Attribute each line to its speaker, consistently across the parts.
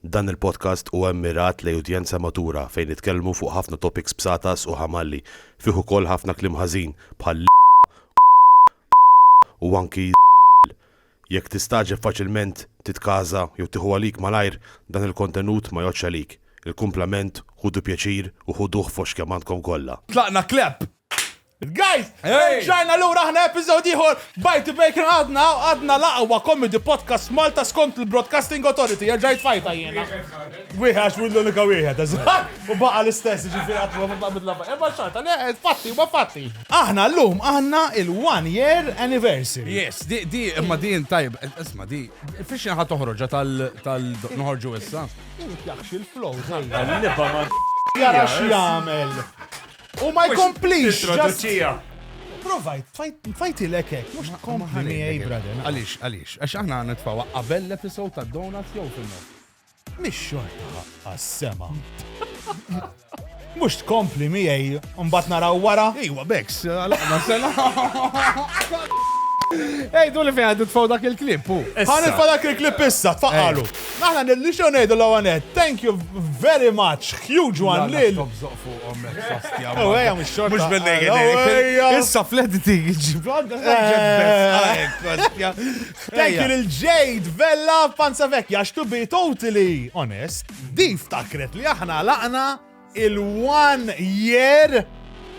Speaker 1: Dan il-podcast huwa mmirat lejn udjenza matura fejn nitkellmu fuq ħafna topics bsatas u ħamalli, fih ukoll ħafna kliem ħażin bħal l, u anki z, jekk tistagħġeb faċilment titkaża jew tieħu għalik malajr dan il-kontenut ma jgħoddx għalik, il-kumplament ħudu pjaċir u ħuduh fost kemm għandkom kollha. Tlaqna clap!
Speaker 2: Guys,
Speaker 3: ġajna l-ura ħna epizod ieħor Bite the Bacon għadna għadna l-aqwa comedy podcast Malta skont il-Broadcasting Authority jerġa' jitfajta jiena. Wieħed għax wid l-unika wieħed, u baqa' l-istess ġifieri qatt ma nitla' bidla bajja. Imma xorta, le fatti huma fatti. Aħna llum għandna il-one year anniversary. Yes, di di imma
Speaker 2: din tajb, isma' di fiex ħa toħroġha tal tal noħorġu issa. Jaħx il-flow,
Speaker 3: Nibba ma. Jara x'jagħmel. U ma jkomplix traduċija. Provajt, fajt ilek hekk, mhux tkompli miegħi brother. Għaliex, għaliex, għax aħna
Speaker 2: nitfgħu qabel l-episode ta' Donuts jew fil Mhix
Speaker 3: xorta għas-sema. Mhux tkompli miegħi mbagħad naraw wara. Iwa beks, għalaqna
Speaker 2: sena. Ej, du li fejn għandu tfaw dak il-klip, u. Għan il-fa dak il-klip
Speaker 3: issa, tfaqqalu. Aħna nidli xew ngħidu l-ewwel nett. Thank you very much, huge one lil. Tobżoq fuqhom hekk sostja. Oh, ejja mhux xorta. Mhux bil-lejn.
Speaker 2: Issa fl-editing ġib għandha sostja.
Speaker 3: Thank you lil Jade Vella Panza Vekja għax to be totally honest, di ftakret li aħna laqna il-one year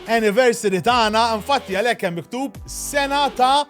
Speaker 3: anniversary tagħna, infatti għalhekk hemm miktub sena ta'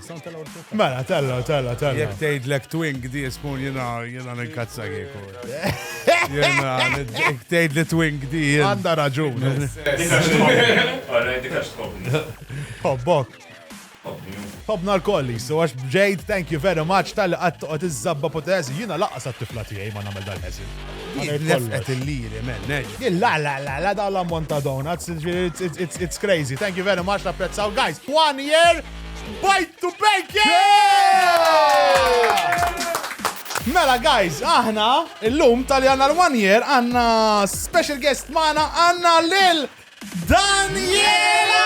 Speaker 2: Mela, tella, tella,
Speaker 3: tella. Jek tgħid lek
Speaker 2: twink di spoon jiena jiena ninkazza kieku. Jiena jek tgħid li twink di. Għandha raġun.
Speaker 3: Hobbok. Hobna l-kolli, so għax bġejt, thank you very much, tal-li għattu għat iż-zabba potezi, jina laqqas għat-tifla tijaj ma namel dal-ħezin. Jillefqet
Speaker 2: il-liri, men, neġ. La, la, la, la, da
Speaker 3: l-ammont ta' donuts, it's crazy. Thank you very much, napprezzaw, guys, one year! Bajt to bank! Mela guys, aħna illum tal għanna l-one year għanna special guest maħna għanna lil Daniela!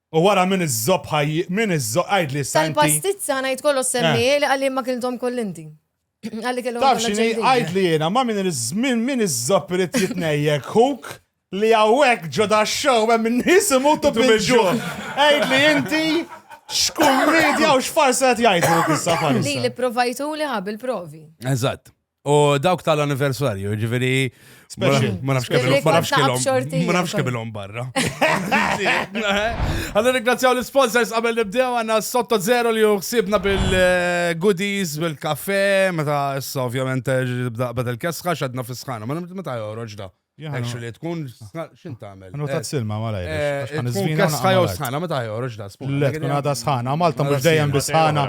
Speaker 2: U wara min
Speaker 3: iżżopp ħaj min iżżopp għidli issa inti. Tal-pastizza ħa ngħid kollox
Speaker 4: semmi li qalli ma kilthom koll inti. Qalli kellhom Taf x'inhi għidli
Speaker 3: jiena ma min min min iżżopp irid jitnejjek ħuk li hawnhekk ġo dax-show hemm in-nies imutu bil-ġuħ. Għidli inti x'kumedja u x'farsa qed jgħidluk issa farsa. Li li pprovajtuli ħa
Speaker 4: bil-provi. Eżatt. U
Speaker 2: dawk tal-anniversarju, ġifiri, ma nafx kemm ma nafx kemm barra. Għallu ringrazzjaw l-sponsors qabel nibdew għanna sotto zero li uħsibna bil-goodies, bil-kafe, meta issa ovvjament bda il-kesħa xadna fis-sħana, ma meta joħroġ da. Actually, tkun xin tagħmel? Nutat eh, silma mala
Speaker 3: jirx. Eh, tkun kesħa jew
Speaker 2: sħana, meta joħroġ da spun. Le, tkun għada sħana,
Speaker 3: Malta mhux dejjem bi sħana.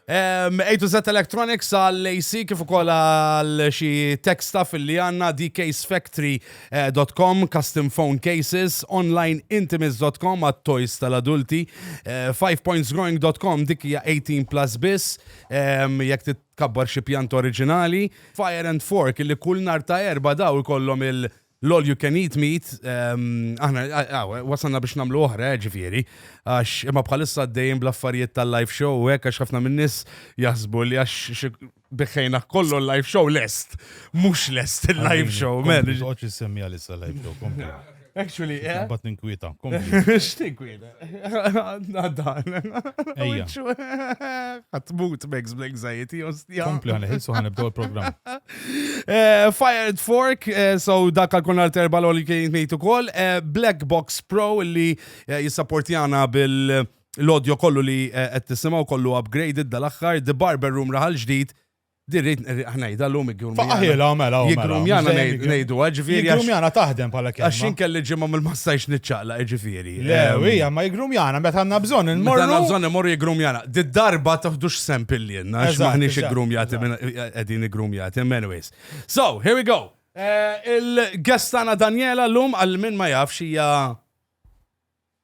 Speaker 3: A
Speaker 2: to Z Electronics għal AC kif ukoll għal xi tech stuff li għandna dcasefactory.com, eh, custom phone cases, onlineintimates.com għat toys tal-adulti, 5pointsgrowing.com dik hija 18 plus biss, jekk Tkabbar xi pjanta oriġinali, Fire and Fork, li kull nhar ta' Erbgħa daw ikollhom il- l-all you can eat meat, aħna wasalna biex nagħmlu oħra eh ġifieri, għax imma bħalissa għaddejjin bl-affarijiet tal-live show u hekk għax ħafna min-nies jaħsbu li għax biħħejna kollu l-live show lest.
Speaker 3: Mhux
Speaker 2: lest
Speaker 3: il-live
Speaker 2: show, men.
Speaker 3: Kompli, ma toqgħodx
Speaker 2: issemmiha
Speaker 3: l-issa
Speaker 2: live show, kompli. Actually, eh? Bat ninkwieta. X'tinkwieta? Għaddan. Ejja.
Speaker 3: Għatmut
Speaker 2: Megs bl-anxiety, ostja. Kompli għan iħilsu għan ibdow
Speaker 3: il-program. Eh,
Speaker 2: Fired Fork, eh, so dak għal-kun għal-terba l-oli kien nejtu kol. Eh, Black Box Pro li jissaportjana bil- l-audio kollu li qed tisimgħu kollu upgraded dal-aħħar, The Barber Room raħal ġdid, Di rrit ngħidha llum iggrumjana. Faqaħilha mela u
Speaker 3: Jiggrumjana
Speaker 2: ngħidu ġifieri. Jiggrumjana taħdem bħala
Speaker 3: kelma. Għax inkelli ġimgħa mill-ma
Speaker 2: stajx niċċaqlaq ġifieri. Le, hija ma
Speaker 3: jiggrumjana meta għandna bżonn immorru. Meta għandna bżonn immorru
Speaker 2: jiggrumjana. Di darba taħdux sem pillienna għax maħniex iggrumjati qegħdin iggrumjati. Anyways. So, here we go. Eh, Il-gestana Daniela llum għal min ma jafx hija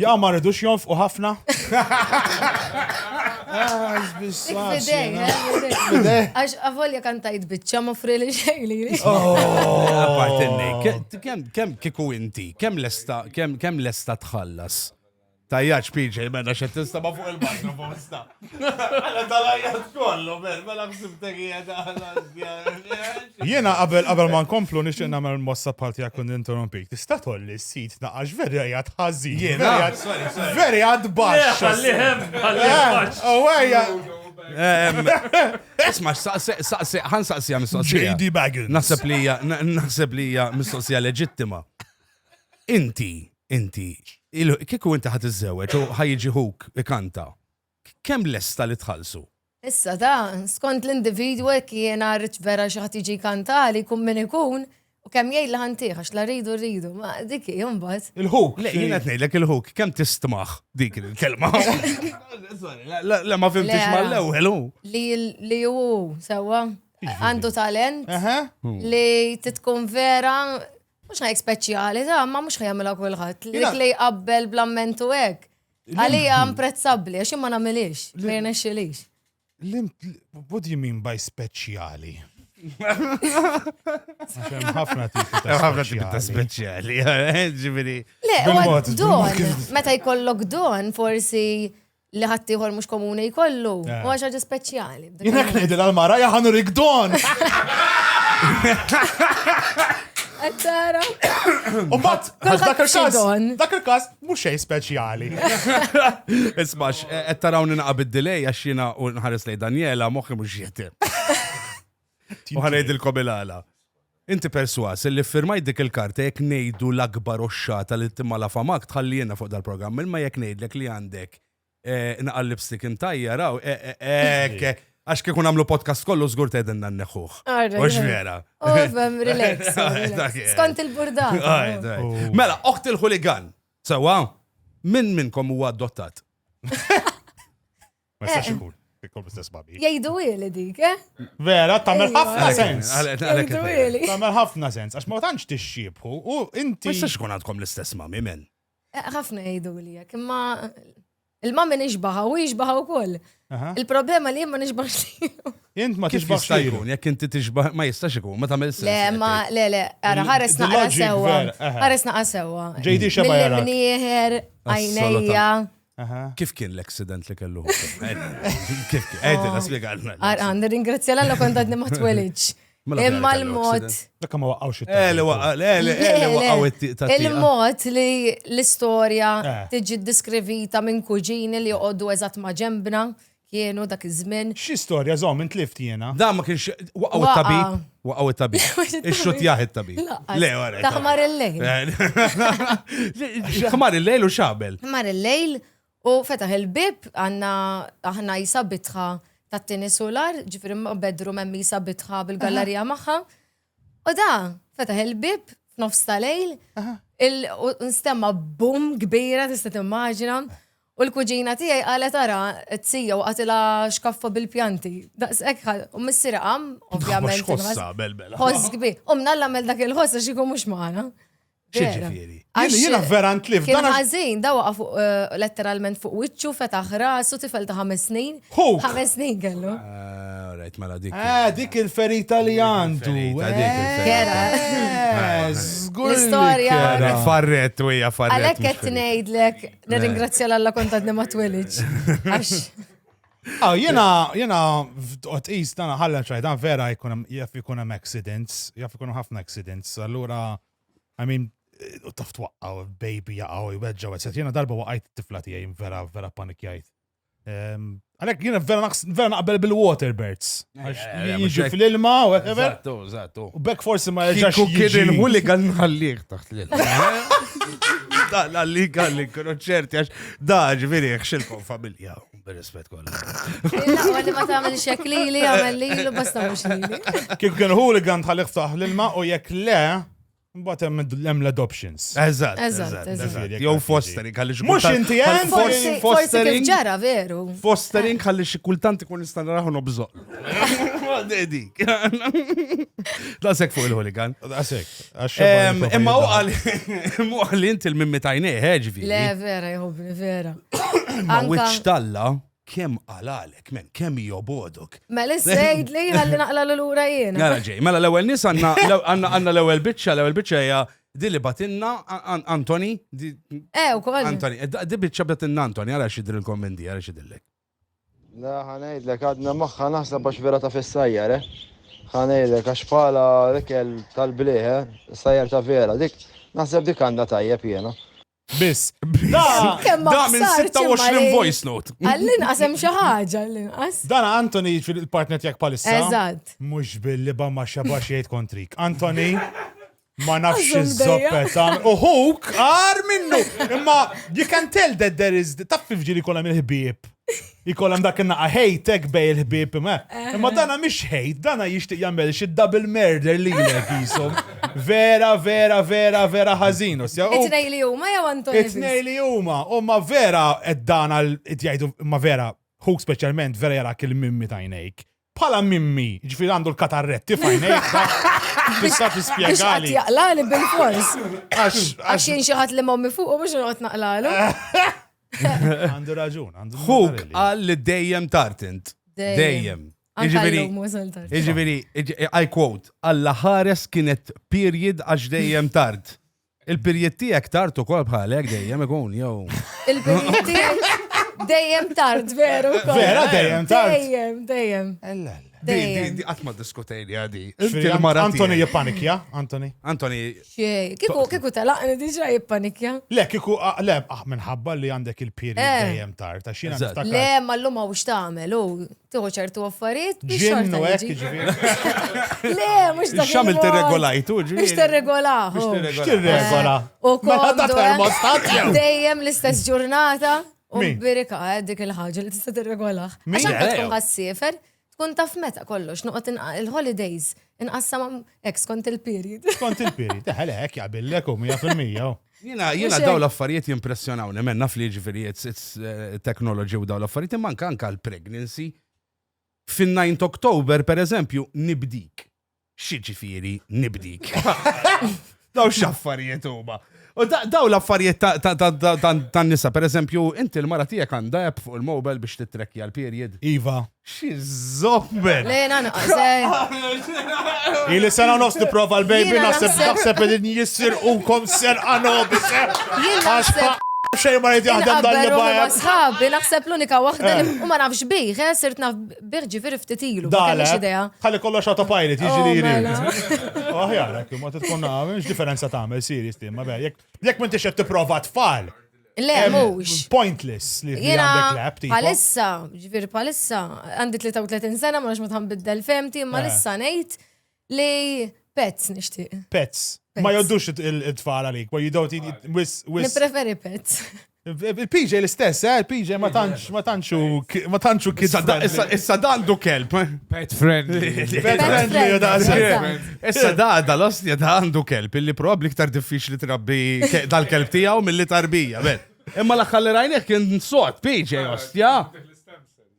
Speaker 4: Jaqaw
Speaker 3: ma rridux
Speaker 4: jonfqu
Speaker 3: ħafna?
Speaker 4: Għax għavolja kan tajt bicċa ma fri li xej li li.
Speaker 2: Kem kiku inti, kem lesta, kem lesta tħallas? Tajjaċ PJ, menna xe tista ma fuq il-bajna bosta. Għala tal-ajjat kollu, ber, mela bsibtek
Speaker 3: Jena qabel qabel ma nkomplu nixtieq nagħmel mossa parti għak kun interrompik. Tista' tolli s-sit naqax veri għajat ħażin. Jena,
Speaker 2: veri għad
Speaker 3: baxx. Għallihem, għallihem
Speaker 2: baxx. Għawajja. Isma, saqsi, għan saqsi għam mistoqsija. J.D. Baggins. Naħseb
Speaker 3: li hija, naħseb
Speaker 2: li hija mistoqsija leġittima. Inti, Inti, kieku inti ħa tiżżewweġ u ħa jiġi ħuk ikanta, kemm lesta li tħallsu? Issa ta',
Speaker 4: skont l-individwu jekk jiena rrid vera xi ħadd jiġi jkantali, jkun min ikun, u kemm jgħid li ħa ntih għax la rridu rridu, ma dik hi mbagħad. Il-ħuk! Le, jiena qed
Speaker 3: ngħidlek il-ħuk,
Speaker 2: kemm tistmah dik il-kelma? Le ma fhimtix mal-ewwel hu. Li
Speaker 4: hu sewwa, għandu talent li titkun vera Mhux ħajk speċjali, ta' ma mhux ħajamilha kulħadd. Li li jqabbel bl-ammentu hekk. Għalija imprezzabbli, għax ma nagħmilix, ma jirnexxilix. What
Speaker 3: do you mean by speċjali? ħafna tipi ta' speċjali, eh,
Speaker 2: ġiviri. Le,
Speaker 4: don,
Speaker 3: meta
Speaker 4: jkollok don, forsi li ħaddieħor mhux komuni jkollu. Eh. U għax ħaġa speċjali. Jien hekk ngħidil għall-mara
Speaker 3: jaħanu rigdon.
Speaker 4: Qed tara.
Speaker 3: U mbagħad għax dak il-każ xidon. dak
Speaker 4: il-każ mhux
Speaker 3: xejn speċjali.
Speaker 2: Ismax, qed tarawni naqa' bid-delay għax jiena u nħares lej Daniela moħħi mhux jieti. U ħanejdilkom il-għala. Inti perswas li firmajt dik il-karta jekk ngħidu l-akbar oxxata li timala famak tħalli jiena fuq dal-programm, imma jekk ngħidlek li għandek eh, naqal lipstick imtajja raw, eh, eh, eh għax kikun għamlu podcast kollu zgur tedinna n-neħuħ. Ux vera. Ovem, oh, relax.
Speaker 4: Skont il-burda. Oh. Mela,
Speaker 2: oħt il-ħuligan. Sawa, minn minnkom huwa adottat?
Speaker 3: Ma jistax ikun. Ikun bl-istess babi. Jgħidu ili dik,
Speaker 4: eh? Vera, tagħmel
Speaker 3: ħafna sens. Jgħidu ili.
Speaker 4: Tagħmel ħafna sens, għax
Speaker 3: ma tantx tixxibħu u inti. Ma jistax ikun għandkom l-istess
Speaker 2: mami men. Eh, ħafna jgħidu
Speaker 4: li jekk, imma il-mami nixbaħa u jixbaħa wkoll. Il-problema li jemma nixbaħx li. Jent ma tixbaħx
Speaker 3: li jkun, jekk inti
Speaker 2: tixbaħ
Speaker 3: ma
Speaker 2: jistax ikun, ma tagħmel sens. Le, ma le le,
Speaker 4: ara ħares naqra sewwa.
Speaker 3: Ħares
Speaker 4: naqra
Speaker 3: sewwa.
Speaker 4: Ġejdi xeba jara.
Speaker 3: Mnieħer,
Speaker 4: għajnejja. Kif
Speaker 2: kien l-accident li kellu hu? Kif kien? Għedin, għaspiega għalna. Għan, ringrazzja
Speaker 4: l-għalla kont għadni ma twelidx. Mela Imma l-mod. Lekka ma waqqawx it
Speaker 3: eh, eh, eh,
Speaker 2: Il-mod li
Speaker 4: l-istoria tiġi diskrivita minn kuġini li joqoddu eżat ma ġembna, kienu dak iż-żmien. Xi storja żomm
Speaker 3: intlift jiena. Dan ma kienx waqgħu
Speaker 2: t-tabib. Waqgħu t-tabib. Ixxuttjah it-tabib. Le, wara. Ta' ħmar il-lejl. Ħmar il-lejl u xabel. Ħmar il-lejl
Speaker 4: u fetaħ il-bib għandna aħna jisa bitħa tat-tieni sular, ġifieri ma' bedroom hemm jisa bitħa bil-gallerija magħha. U da, fetaħ il-bib f'nofs ta' lejl, il- u nstemma bum kbira tista' timmaġina. U l-kuġina tiegħi qalet ara, t-tija u qatilha xkaffa bil-pjanti. Daqs hekk ħal, u missieri qam, ovvjament. Ħossa, belbel.
Speaker 2: Ħoss
Speaker 4: kbi. U mnalla għamel dak il-ħoss għax ikun
Speaker 2: mhux
Speaker 4: magħna. Xiġifieri.
Speaker 2: Jiena
Speaker 3: vera ntlift. Kien ħażin, da waqa'
Speaker 4: fuq
Speaker 3: eh,
Speaker 4: letteralment fuq wiċċu, fetaħ rasu tifel ta' ħames snin. Hu! Ħames snin
Speaker 3: kellu.
Speaker 4: Ah, rajt mela
Speaker 2: dik. Ah, dik il-ferita
Speaker 3: li għandu. Kera. Eh, eh, l-istorja.
Speaker 4: Farret,
Speaker 3: u hija farret.
Speaker 2: Għalhekk qed ngħidlek
Speaker 4: Nirringrazzja l-alla kontatni ma twelidx. Ah, jena,
Speaker 3: jena, f'tqotqis tana ħalla ċajda, vera jaf ikun hemm accidents, jaf ikun ħafna accidents, allura, I mean, u taf twaqqaw, baby jaqaw, jweġġaw, etc. Jena darba waqajt tifla tijaj, vera, vera panikjajt. Ehm, għalek jina vera naqbel bil-waterbirds. Eh, eh, eh, jiġu fil-ilma, whatever. Zattu, zattu. U bekk
Speaker 2: forsi ma
Speaker 3: jġax. Kuk kien il-hooligan
Speaker 2: nħalliq taħt l-ilma. Da, la li għalli, kienu ċerti għax, da, ġviri, xilkom familja, bil-rispet kolla. Għalli ma ta'
Speaker 4: għamil xekli li għamil li l-basta mux li. Kik kien hooligan
Speaker 3: tħalliq taħt l-ilma u jek le, Mbagħad hemm l-adoptions. Eżatt, eżatt,
Speaker 4: eżatt. Jew
Speaker 2: fostering għaliex. Mhux inti hemm forsi
Speaker 3: fostering.
Speaker 4: Ġara veru. Fostering għaliex
Speaker 2: xi kultant ikun nista' naraħu nobżoq. Dik. Dasek fuq il-hooligan. Dasek.
Speaker 3: Imma
Speaker 2: u għal imma għal inti l-mimmi tajnej, ħeġvi. Le vera, jħobni
Speaker 4: vera. Ma wiċċ
Speaker 2: talla. Kemm qalalek, men, kemm jobodok. Mela sejdli
Speaker 4: ħalli naqla l-lura jiena. Nara ġej, mela l-ewwel nies
Speaker 2: għandna l-ewwel biċċa, l-ewwel biċċa hija di li batinna Antoni. Eh, u
Speaker 4: kol. Antoni, eh, di biċċa
Speaker 2: batinna Antoni, għara xidri l-kommendi, għara xidillek. La
Speaker 5: ħanajdlek għadna maħħa naħseb għax vera ta' fissajjar, eh? Ħanajdlek għax pala l-ikel tal-bliħe, eh? sajjar ta' vera, dik naħseb dik għandha tajjeb jiena. Biss.
Speaker 3: Kemm
Speaker 2: Da minn 26 voice note. Għallin qasem xi
Speaker 4: ħaġa għallin qas. Dan Anthony
Speaker 3: fil-partner tiegħek palissa. Eżatt. Mhux
Speaker 4: billi ba
Speaker 3: ma xabax jgħid kontrik. Anthony, ma nafx iż-zoppet. Uħuk, għar minnu. Imma you can tell that there is taf fil-ġiri kollha mill-ħbieb. Ikoll hemm dak in-naqa' hate hekk bej il-ħbieb ma. Imma dana mhix hate, dana jixtieq jagħmel xi double murder lilek qishom. Vera, vera, vera, vera ħażin. It-tnejn li
Speaker 4: huma jew Anthony? It-tnejn li huma,
Speaker 3: huma vera qed dana qed jgħidu imma vera, ħuk speċjalment vera jarak il-mimmi t'għajnejk. Bħala Mimmi, ġifieri għandu l-katarretti f'għajnejh da. Tista' tispjegali. Biex jaqlali
Speaker 4: bil-fors. Għax jien xi ħadd li mommi fuq mhux noqgħod naqlalu.
Speaker 3: Għandu raġun, għandu. Huk qal li
Speaker 2: dejjem tartint. Dejjem. Iġveri, iġveri, I quote, Alla ħares kienet period għax dejjem tard. Il-pirjiet tiegħek tard ukoll bħalek dejjem ikun jew. Il-pirjiet tiegħek
Speaker 4: dejjem tard veru. Vera dejjem tard.
Speaker 3: Dejjem,
Speaker 4: dejjem. Ella. Dejjem.
Speaker 2: Di qatt ma diskutejni għadi. Antoni
Speaker 3: jippanikja, Antoni. Antoni. Xej,
Speaker 2: kiku
Speaker 4: kiku talaqni diġà jippanikja. Le, kiku ah, le,
Speaker 3: ah, minħabba li għandek il-pirjiet eh. dejjem tard, għax jiena Le, ma
Speaker 4: llum hawn x'tagħmel, u Tuħu ċertu affarijiet biex xorta jiġi.
Speaker 3: Le,
Speaker 4: mux dak. Xamil t-regolajtu
Speaker 2: ġi. Biex t-regolahu.
Speaker 4: Biex t-regola.
Speaker 3: U mela
Speaker 4: kol.
Speaker 3: Dejjem l-istess
Speaker 4: ġurnata. U birika eh, dik il-ħagġa li tista' t-regolah. Għaxan tkun għassifer, tkun taf meta kollox, nuqot il-holidays. Inqassam ex kont il-period. Kont il-period, eħel
Speaker 3: hekk jaqbillek u 100%. Jina, jina daw
Speaker 2: l-affarijiet jimpressjonaw, nemmen naf li ġifiri it's eh, technology u daw l-affarijiet, imman kanka l-pregnancy. Fin-9 Oktober, per eżempju, nibdik. Xi ġifiri nibdik? Daw x'affarijiet huma. U daw l-affarijiet tan nisa, per eżempju, inti l-mara tiegħek għandha app fuq il-mobile biex titrekki għal-period. Iva. Xi zobber. Lejna naqsej.
Speaker 3: Ili sena nofs prova l-baby naħseb naħseb li jissir unkom ser għanob. Għax xejn ma jdi jaħdem dan li bajja. Sħabi naħseb
Speaker 4: l-unika waħda eh. u ma nafx bih, eh, sirt naf Birġi veri ftit ilu, ma kellix idea. Ħalli
Speaker 3: kollox autopilot, jiġi li jiri. Aħjar, jekk ma
Speaker 4: tkun
Speaker 3: nagħmel, x'differenza tagħmel serjus tim, ma jekk jekk m'intix qed tipprova tfal. Le, mhux.
Speaker 4: Pointless li
Speaker 3: għandek lab tipo. Palissa, ġifieri
Speaker 4: palissa, għandi 33 sena ma nix ma tħambiddel femti, ma eh. lissa ngħid Li pets nixtieq. Pets. Ma
Speaker 3: joddux it-tfal għalik, but you don't eat wis. Nipreferi pets.
Speaker 4: Il-PJ
Speaker 3: l-istess, eh? Il-PJ ma tantx, ma tantx ma tantx u kid. Issa dan du
Speaker 2: kelb. Eh? Pet friendly.
Speaker 6: Pet friendly, u
Speaker 3: dan Issa
Speaker 2: da, da l-ostja da għandu kelb, illi probabli ktar diffiċli trabbi dal-kelb tijaw mill-li tarbija, ben. Imma l-axħalli rajnek kien sot, PJ, ostja.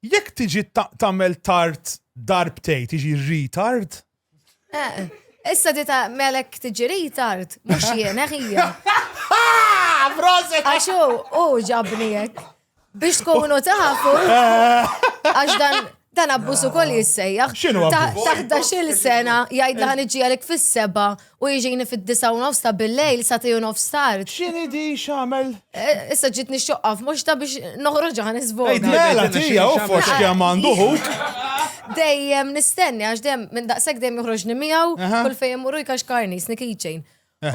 Speaker 3: Jekk tiġi tagħmel tard darbtejn tiġi retard? Eh,
Speaker 4: issa ti melek tiġi retard, mhux jien eh, ħija.
Speaker 3: Għax
Speaker 4: u ġabni hekk. Biex tkunu tafu, għax dan dan abbusu kol jissejjaħ. Xinu Taħdax
Speaker 3: il-sena
Speaker 4: jgħidla ħan iġielek fis-seba U jiġini fid-disgħa u nofs ta' bil-lejl sa tnej u nofs tard. X'inhi di x'għamel?
Speaker 3: Issa ġietni
Speaker 4: xoqqa f'moxta biex noħroġha ħa nisboga. Mela tija u
Speaker 3: fost kemm għandu ħuk. Dejjem
Speaker 4: nistenni għax dejjem minn daqshekk dejjem joħroġni miegħu kull fejn immur hu jkaxkarni jsni keychain.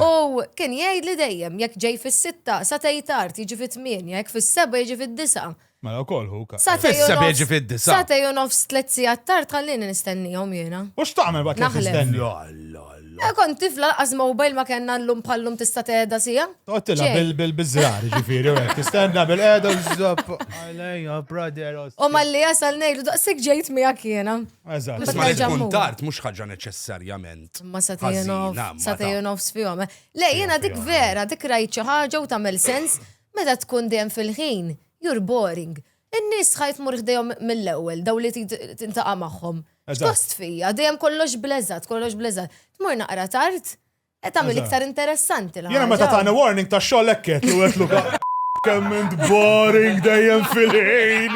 Speaker 4: U kien jgħidli dejjem jekk ġej fis-sitta sa tej tard jiġi fit-tmienja, jekk fis-sebgħa jiġi fid-disgħa. Mela wkoll hu
Speaker 3: ka. Satej u Fissa nofs- bieġi fid-disa.
Speaker 2: Satej u nofs tliet
Speaker 4: sigħat tard ħallini nistennihom jiena. U x'tagħmel waqt li Naħlef.
Speaker 3: tistenni? La,
Speaker 4: la,
Speaker 3: la. Eh, Kont tifla
Speaker 4: laqas mobile ma kellna llum bħallum tista' tehda sija. Toqgħod tilgħab Ġej. bil- bil-
Speaker 3: biż-żrar, ġifieri, u hekk tistenna bil-qeda żopp. Għalejja, brother. os- U malli jasal
Speaker 4: ngħidu daqsik ġejt miegħek jiena. Eżatt. Bas ma li nerġa' tkun
Speaker 3: mmur. tard
Speaker 2: mhux ħaġa neċessarjament. Ma satej u ħażina,
Speaker 4: nofs, ma satej
Speaker 2: u ta- nofs fihom. eh.
Speaker 4: Le, jiena dik vera, dik rajt xi ħaġa u tagħmel sens. Meta tkun dejjem fil-ħin, you're boring. In-nies ħa tmur ħdejhom mill-ewwel, dawn li trid tintaqa' magħhom. X'gost fija, dejjem kollox bl-eżatt, kollox bl-eżatt. Tmur naqra tard, qed tagħmel iktar interessanti l-ħaġa. Jiena meta tani warning
Speaker 3: tax-xogħol hekk għedt li wegħdtlu kemm int boring dejjem fil-ħin.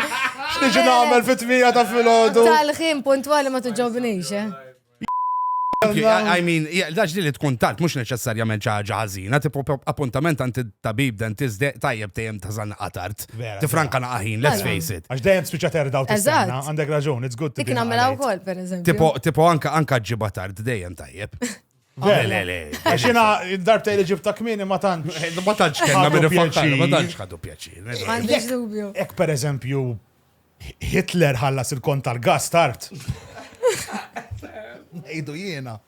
Speaker 3: X'niġi nagħmel fit-tmiegħa ta' filgħodu? Tal-ħin puntwali
Speaker 4: ma tiġobnix, eh.
Speaker 2: I mean, daġ li li tkun tard, mux neċessarjament ċaġa ħazina, tipo appuntament għant tabib dentist de tajjeb tejem taħzan qatart. Tifranka naqaħin,
Speaker 3: let's
Speaker 2: face it. Għax dajem spiċa terda u
Speaker 3: tistanna, għandek raġun, it's good
Speaker 4: to be.
Speaker 3: Iknamela u kol, per eżempju.
Speaker 4: Tipo,
Speaker 3: tipo
Speaker 4: anka anka
Speaker 2: ġiba tard dejem tajjeb. Le, le, le. Għaxina,
Speaker 3: darbta li ġibta kmini ma tantx. Ma tantx kena minn
Speaker 2: pjaċir. Ma tantx
Speaker 3: ħadu
Speaker 2: pjaċir.
Speaker 4: Ek per eżempju,
Speaker 3: Hitler ħallas il-kont tal-gass tard. Ngħidu jiena.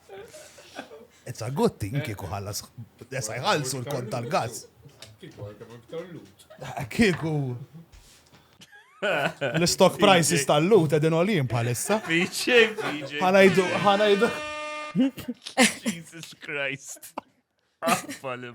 Speaker 3: It's a good thing kieku ħallas desa jħallsu l-kont tal-gass. Kieku. L-stock prices tal-lut edin olim bħalissa. Piċi, piċi.
Speaker 6: Ħanajdu, ħanajdu. Jesus Christ. Affa li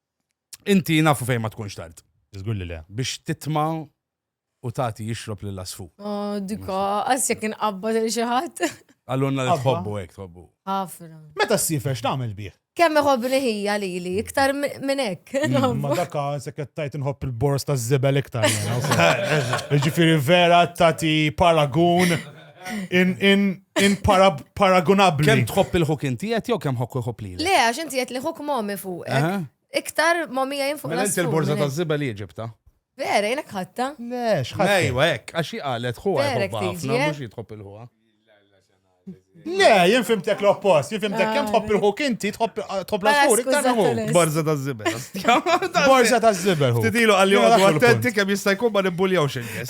Speaker 2: Inti nafu fejn ma tkunx tard. Żgur li le. Biex
Speaker 3: titma'
Speaker 2: u tagħti jixrob lil asfu. Oh, dika,
Speaker 4: għas jekk inqabba lil xi ħadd. Għallunna li tħobbu
Speaker 2: hekk tħobbu. Ħafna. Meta
Speaker 4: ssiefer
Speaker 3: x'tagħmel bih? Kemm iħobbni ħija
Speaker 4: lili, iktar minn hekk. Mm, ma daka se
Speaker 3: qed tajt inħobb il-bors taż-żibel iktar. Jiġifieri vera tagħti paragun. in paragunabli. Kem tħobb il-ħuk
Speaker 2: inti jett jew kem ħokku jħobb li? Le, għax inti jett li ħuk
Speaker 4: momi fuq. Iktar
Speaker 2: momi
Speaker 4: jgħin fuq. Mela inti l-borza ta' ziba
Speaker 2: li ġibta. Vera, jenek
Speaker 4: ħatta. Le, xħatta. Ejwa,
Speaker 3: ek, għax jgħalet
Speaker 2: ħuwa jħobba ħafna, mux
Speaker 4: jitħobb
Speaker 2: il-ħuwa.
Speaker 3: Le, jien fimtek l-oppost, jien fimtek kem tħobb il-ħuk inti, tħobb l-asfur, iktar hu. Borza ta' zibel.
Speaker 2: Borza
Speaker 3: ta' zibel. Tidilu għalli għadu attenti
Speaker 2: kem jista'
Speaker 3: jkun ma
Speaker 2: nibbuljawx il-nis.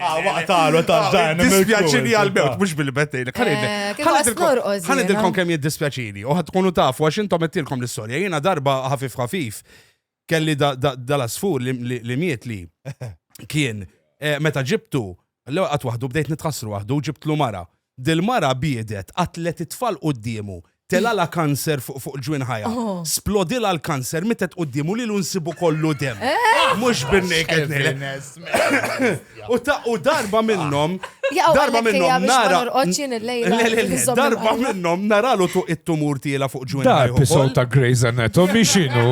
Speaker 4: Ah, waqtalu
Speaker 3: ta' dan. Dispjaċini għal-mewt,
Speaker 2: mux bil-bettejn.
Speaker 4: Għanidilkom kem
Speaker 2: jiddispjaċini, u ħatkunu taf, għax intom għettilkom l-istoria. Jena darba ħafif ħafif, kelli dal-asfur li miet li kien, eh, meta ġibtu, l-għat wahdu bdejt nitħassru wahdu, ġibtlu mara. Dil-mara biedet, qatlet it-tfal quddiemu, telgħalha kanser fuq fuq ġwien ħajha, splodilha l-kanser, mietet quddiemu lilu nsibu kollu demm. Mhux bin-naked nail. U ta' u darba minnhom, darba minnhom nara. Darba minnhom naralu tuq it-tumur tiela fuq ġwien ħajha. Episode ta' Grey's
Speaker 7: Anatomy x'inhu?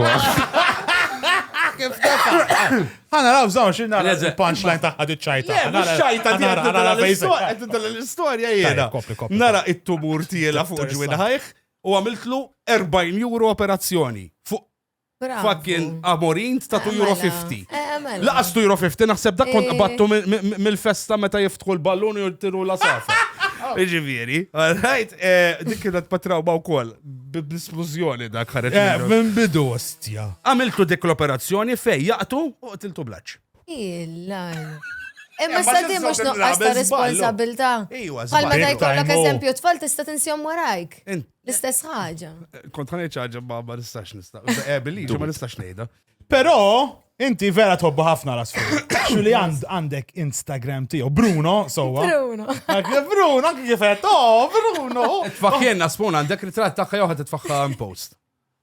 Speaker 3: Għana raw zawn xin nara il-punchline taħħa di ċajta. Għana ċajta di ċajta.
Speaker 2: l-istoria jena. Nara
Speaker 3: it-tumur
Speaker 2: tijela fuq ġwin ħajħ u għamiltlu 40 euro operazzjoni fuq fucking amorin ta' 2 euro 50. Eh, eh, Laqas 2 euro 50 naħseb dak kont eh. qabattu mill-festa meta jiftħu l-ballun u jirtiru la safa. Iġifieri, għalħajt, dik kienet patraw ma' wkoll. Bl-isplużjoni dak ħareġ. Eh, minn bidu
Speaker 3: ostja. Għamiltu dik
Speaker 2: l-operazzjoni fej jaqtu u qtiltu blaċ. Illa.
Speaker 4: Imma sa di mhux nuqqas ta' responsabilità. Iwa, Bħal ma
Speaker 2: ta' jkollok
Speaker 4: eżempju tfal
Speaker 2: tista'
Speaker 4: tinsjom warajk. L-istess ħaġa. Kont ħanejt ħaġa
Speaker 2: ma ma nistax nista'. Ebili, eh, ma nistax ngħidha. Però
Speaker 3: inti vera tħobbu ħafna l-asfur. Xuli għandek Instagram tiegħu Bruno, sowa. Bruno.
Speaker 4: Bruno, anke
Speaker 3: kif qed, oh, Bruno. Tfaħħien asfun
Speaker 2: għandek ritratt tagħha jew ħadd tfaħħa post.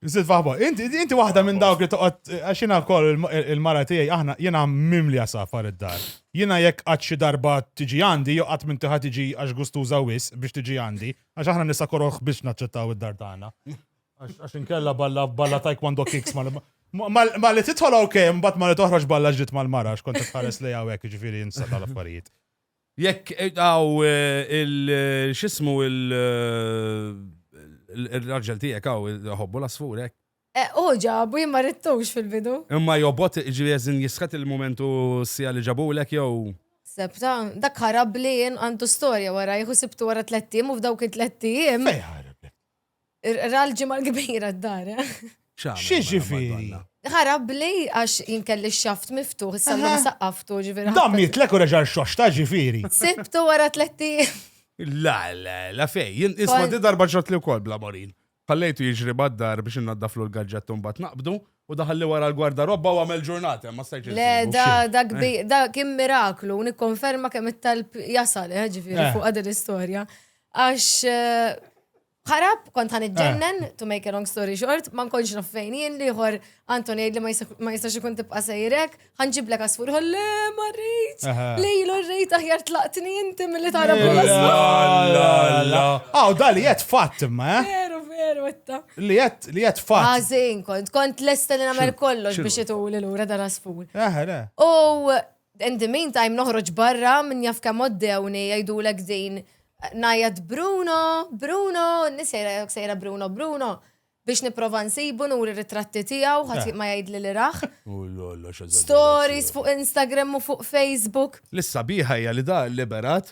Speaker 2: Zid faħbo,
Speaker 3: inti, inti wahda minn dawk li toqgħod għaxina wkoll il-mara tiegħi aħna jiena mimli safar id-dar. Jiena jekk qatt xi darba tiġi għandi, jew qatt minn tiħa tiġi għax gustuża wis biex tiġi għandi, għax aħna nisa koroħ biex naċċettaw id-dar tagħna. Għax inkella balla balla taekwondo kicks ma li titħol ok, mbagħad ma li toħroġ balla ġdid mal-mara x'kont tħares li hawnhekk jiġifieri jinsa tal-affarijiet. Jekk
Speaker 2: għaw eh, eh, il-xismu il-raġel eh, tijek għaw ħobbu l-asfurek. Uġa, bu jimma
Speaker 4: rittux fil-bidu. Imma jobot
Speaker 2: ġivjezin jisħat il-momentu sija li ġabu l-ek jow. Sebta,
Speaker 4: dak ħarab li jen għandu storja wara, jħu sibtu wara tlettim u f'dawk it-tlettim.
Speaker 3: Ra
Speaker 4: l-ġimgħa l-kbira d-dar. Xi
Speaker 3: ġifieri? Ħarab
Speaker 4: li għax jinkelli x-xaft miftuħ, issa l-lum saqqaftu ġifieri. Dam jitlek u reġa'
Speaker 3: xoxta ġifieri. Sibtu wara
Speaker 4: tletti. La, la,
Speaker 2: la fej, jien isma di darba ġratli wkoll bla morin. Ħallejtu jiġri mad-dar biex innaddaflu l-gaġġett u mbagħad naqbdu, u daħalli wara l-gwardarobba u għamel ġurnata, imma stajtx insib. Le, da, da kbir,
Speaker 4: da kien miraklu, nikkonferma kemm it-talb jasal, ġifieri fuq din l-istorja. Għax eh, ħarab, kont ħan iġġennen, eh. to make a long story short, ma nkonx naf fejn jien liħor Anton jgħid li ma jistax ikun tibqa' sejrek, ħan ġiblek għasfur ħolle ma rrit. Lejlu rrit aħjar tlaqtni inti milli tara bħala. Aw
Speaker 3: dali qed fatt imma, eh? Veru, veru, etta.
Speaker 4: Li qed li qed
Speaker 3: fatt. Għażin kont, kont
Speaker 4: lesta li nagħmel kollox biex ituli lura dal-asfur. U In the meantime noħroġ barra min jaf kemm oddewni jgħidulek din ngħajjat Bruno, Bruno, n-nies jgħidlek sejra Bruno, Bruno biex niprofa nsibu nuri ritratti tiegħu ħadd ma jgħidli li rah. Stories fuq Instagram u fuq Facebook. L-issabiħa hija
Speaker 2: li da liberat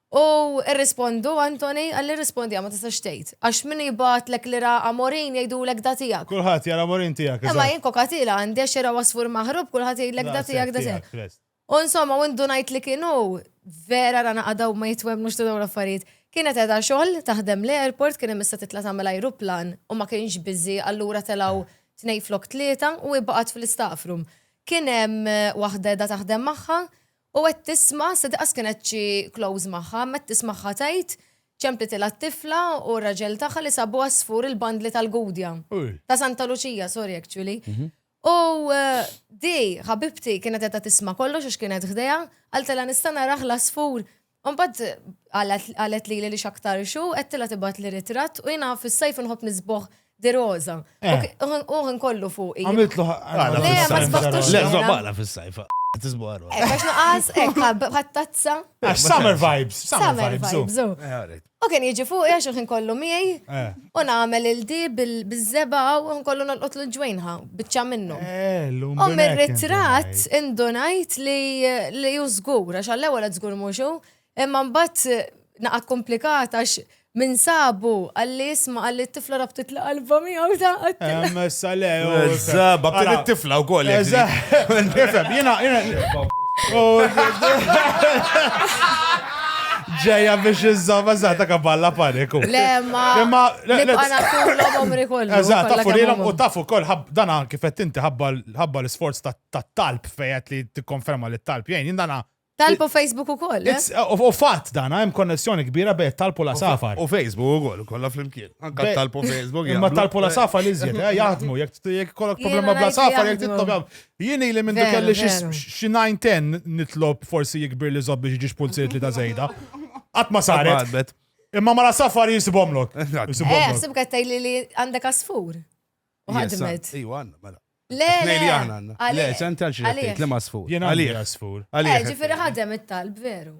Speaker 4: U rrispondu, Anthony, Għalli rrispondiha, ma tistax tgħid. Għax min jibgħatlek li ra Amorin jgħidulek da tiegħek. Kulħadd jara Amorin tiegħek,
Speaker 3: eżatt. Imma jien kokatila għandi
Speaker 4: għax ira għasfur maħrub kulħadd jgħidlek da tiegħek, da tiegħek. U insomma, u ndunajt li kien hu. Vera ra naqgħda u ma jitwemmnux ta' dawn l-affarijiet. Kienet qiegħda xogħol taħdem l-airport kien imissa titla' tagħmel ajruplan u ma kienx busy allura telgħu tnejn flok tlieta u hi baqgħet fl-istaff room. Kien hemm waħda qiegħda taħdem magħha U qed tisma', sa daqas kienet xi close magħha, imma qed tismagħha tgħid, ċemplitilha t-tifla u r-raġel tagħha li sabu għasfur il-bandli tal-Gudja. Ta' Santa Luċija, sorry actually. U di, ħabibti, kienet qiegħda tisma' kollox għax kienet ħdejha, qaltilha nista' narah l-għasfur? Mbagħad qalet lili li x'aktar xu qed tilha tibgħat li ritratt u jiena fis-sajf inħobb nisboħ di roża. Eh. U nkollu fuq. Għamiltlu ħaqqa. Le, ma sbaħtux. Le, żobala fis-sajf.
Speaker 2: Tisbuħar. Għax naqas,
Speaker 4: għattazza. Summer
Speaker 3: vibes. Summer
Speaker 4: vibes. U kien jiġi fuq għax il-ħin kollu miegħi eh. u nagħmel il-di biż-żeba u ħin kollu nolqot l ġwejnħa biċċa minnu. Eh, u mir-ritratt indunajt li ju żgur għax għall-ewwel qed żgur mhux imma mbagħad eh, naqa' komplikat għax minn sabu għalli jisma għalli t-tifla rabtit la qalba miegħu ta' għattilha. Sale,
Speaker 3: żaba kien
Speaker 2: it-tifla wkoll. Nifhem,
Speaker 3: jiena. Ġeja biex iżżomm, eżatt, ka balla paniku. Le, ma. Imma.
Speaker 4: Nibqa' nagħtulhom omri kollu. Eżatt, tafu lilhom u
Speaker 3: tafu wkoll dan anki fett inti ħabba l-isforz tat-talb fejet li tikkonferma li t-talb jgħin. Dana. Talb
Speaker 4: u Facebook ukoll. Eh? Eh, u fatt dan
Speaker 3: hemm konnessjoni kbira bejn talb u la safar. U Facebook ukoll
Speaker 2: kollha flimkien. Anke talb u Facebook. Imma talb u la safar
Speaker 3: li żjed, eh, jaħdmu jekk kollok problema bla safar jekk titlob Jien ili mindu kelli xi nine ten nitlob forsi jikbir li zob biex jiġix pulziet li ta' zejda. Qatt ma saret. Imma mara safar jisibomlok. Eh, sib
Speaker 4: għattaj li li għandek asfur. U ħadmet. Iju għanna, mela.
Speaker 2: Le, le, għanna. Le, ċan tal-ċin, li ma asfur. Jena għalli asfur.
Speaker 3: Eh, ġifiri ħadem
Speaker 4: it-talb, veru.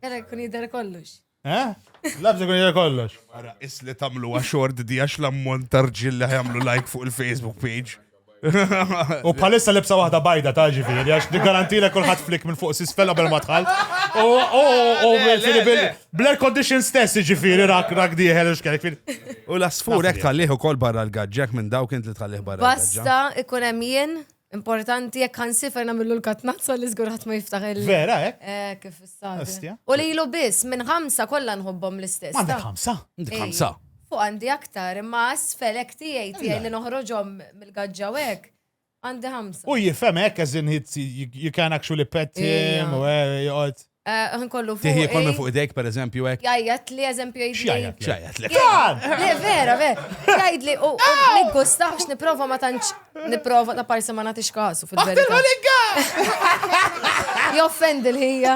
Speaker 4: Għara kun jidher kollox. Eh? Labs
Speaker 3: ikun jidher kollox. Ara, is li tamlu
Speaker 2: xort di għax l-ammont tarġil li ħajamlu like fuq il-Facebook page. U
Speaker 3: bħalissa libsa waħda bajda ta' ġifiri, għax di garantile kullħat flik minn fuq sisfel qabel ma tħall. U u bl-air condition stess ġifiri rak rak diħel u xkajk. U l-asfur
Speaker 2: ek tħalliħu kol barra l-gagġek minn dawk int li tħalliħ barra. Basta ikun hemm jien
Speaker 4: Importanti jekk għan sifer namillu l-katnazza li zgur ħadd ma jiftaħ il- Vera, eh? Eh, kif
Speaker 3: istadja.
Speaker 4: Astja. U li ilu biss, minn ħamsa kollha nħobbhom l-istess. Għandek ta? ħamsa? Dik Ej,
Speaker 3: ħamsa.
Speaker 2: Fuq għandi aktar,
Speaker 4: imma asfelek tiegħi tiegħi li noħroġhom mill-gaġġa u hekk. Għandi ħamsa. U jifhem hekk as in
Speaker 3: hit you can actually pet him Ija. u eh, joqgħod. Ħin kollu fuq. Tiħi
Speaker 4: kollu fuq idejk, per
Speaker 2: eżempju, hekk. Jajjat li eżempju jgħid.
Speaker 4: Jajjat li. Jajjat li.
Speaker 2: Le, vera,
Speaker 4: vera. Jgħid li u niggustax niprofa ma tantx niprofa ta' parsi ma nagħtix kasu fil-verità. Aħtar ligga! Joffend il-ħija.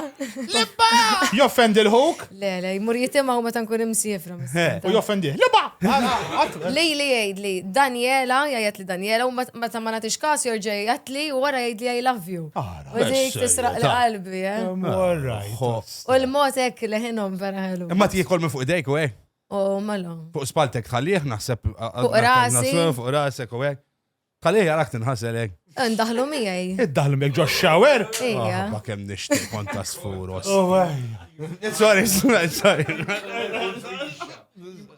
Speaker 4: Libba!
Speaker 3: Joffend il-ħuk? Le, le, jmur jitima
Speaker 4: u meta nkun imsifra. U joffend il
Speaker 3: Libba! Li
Speaker 4: li jgħid li Daniela, jgħid li Daniela u meta ma nagħtix kasu jorġa' jgħid li u wara jgħid li I love you. Ah, U dik tisraq l-qalbi, eh? U l-mod hekk leħinhom vera ħelu. Imma tiekol minn fuq idejk u
Speaker 2: hekk. U mela.
Speaker 4: Fuq spaltek tħallih
Speaker 2: naħseb. Fuq rasi.
Speaker 4: Fuq rasek u
Speaker 2: hekk. Tħallih jarak tinħasel hekk. Ndaħlu miegħi.
Speaker 4: Iddaħlu miegħek ġo
Speaker 3: shower? Ija. Ma kemm
Speaker 4: nixtieq
Speaker 2: kont tasfuros. Oh,
Speaker 3: sorry, sorry.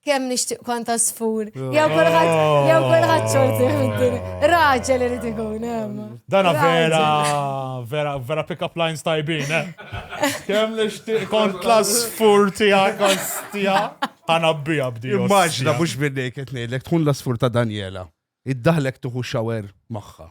Speaker 4: Kemm nixtieq kont asfur. Jew kulħadd jew kulħadd xorti fid-dinja. Raġel irid ikun hemm. Dana vera
Speaker 3: vera vera pick up lines tajbin, eh? Kemm nixtieq kont l-asfur tiegħek kont tiegħek. Ħana bija bdi. Immaġna mhux minni
Speaker 2: qed ngħidlek tkun l-asfur ta' Daniela. Iddaħlek tuħu xawer magħha.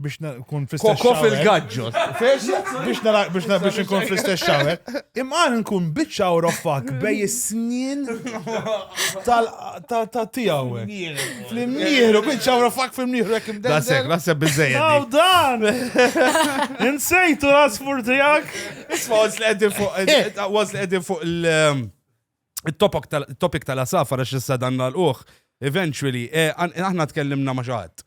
Speaker 3: biex nkun fl-istess Koko fil-gaġġo.
Speaker 2: Biex nara
Speaker 3: biex nara biex nkun fl-istess xawer. Imqar nkun biċċa u roffak bej is-snien ta' tiegħu. Fl-imnieħru, biċċa u roffak fl-imnieħru jekk imdejjem. Dasek, naħseb biżejjed.
Speaker 2: Aw dan! Insejtu
Speaker 3: l-asfur
Speaker 2: tiegħek. Isma' was
Speaker 3: li qegħdin
Speaker 2: fuq eh. was li qegħdin fuq il- um, topic tal-asafar għax issa dan l-uħ, eventually, eh, aħna tkellimna ma' xaħat.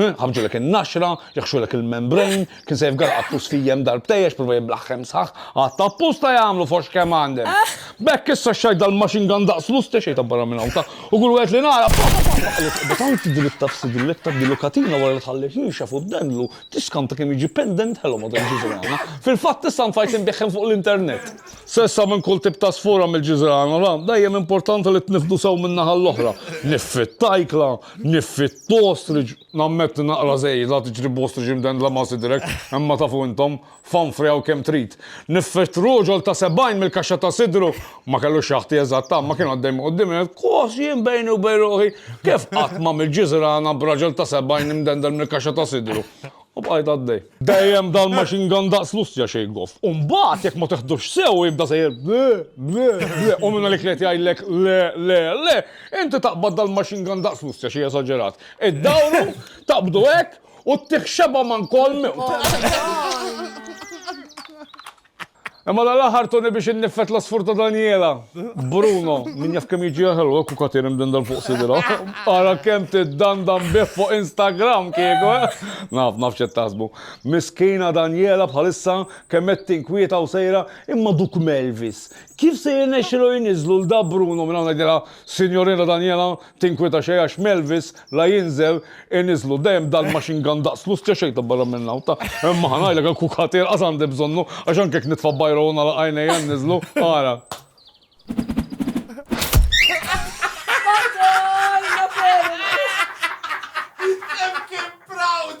Speaker 8: Ħabbġulek in-naxra, jaħxulek il-membrane, kien se jifgaraq għat-tust fijiem darbtej għax prova jiblaħħem sħaħ, għad ta' apposta jagħmlu foxx kemm għandem. B'hekk issa xxajt dal-machine gun daqs l-uste xejn ta' barra minn hawn ta' u kull wieħed li nara pa pa pa pa għaliex qiegħda tant dritta f'sidillek tgħaddilu katina wara li tħalli rixha fuq dendlu tiskanta kemm jiġi pendent ħelu madwar il-ġiżrana. Fil-fatt issa ntfajt inbiegħhom fuq l-internet. S'issa minn kull tip ta' sfora mill-ġiżrana, ra, dejjem importanti li tniffdu sew min-naħa l-oħra. Niffi t-tajkla, niffi. Two ostrich, nammetti naqra żejda, tiġri b'ostrich imdendla ma' sidrek, imma tafu intom, fanfri hawn kemm trid. Niffirt roġol ta' sebgħin mill-kaxxa ta' sidru, ma kellu xaħti eżatt imma kien għaddej minn quddiemi qed kos jien bejni u bejn ruħi, kif qatt m'għamilt ġiżrana b'raġel ta' sebgħin imdendel mill-kaxxa ta' sidru? U bqajt għaddej. Dejjem dal machine gun daqs l-ustja xejn goff. U mbagħad jekk ma tiħdux sew jibda sejjer ble, ble, ble, u minn għalik li qed jgħidlek le, le, le, inti taqbad dal machine gun daqs l-ustja xi esaġerat. Iddawru, taqbdu hekk, u ttih xebgħa man kolm. Imma dan l-aħħar tuni biex inniffet l-għasfur ta' Daniela. Bruno, min jaf kemm jiġi ħelu hekk u katin imdindel fuq sidra. Ara kemm tiddandan bih fuq Instagram kieku, eh! Naf, naf x'qed taħsbu. Miskina Daniela bħalissa kemm qed tinkwieta u sejra, imma duk Melvis, kif se jirnexxilu jniżżlu 'l da Bruno minn hawn ngħidilha, Sinjorina Daniela, Tinkwieta xejn għax m'Elvis la jinżel iniżlu dejjem dal-machine gun daqs l-ustja xejn ta' barra minn hawn ta' imma ħa ngħidlek il-kukat inqas għandi bżonnu għax anke jekk nitfa' bajra u nagħlaq għajnejja nniżlu ara. Madonna Feral!
Speaker 4: Hemm kien proud!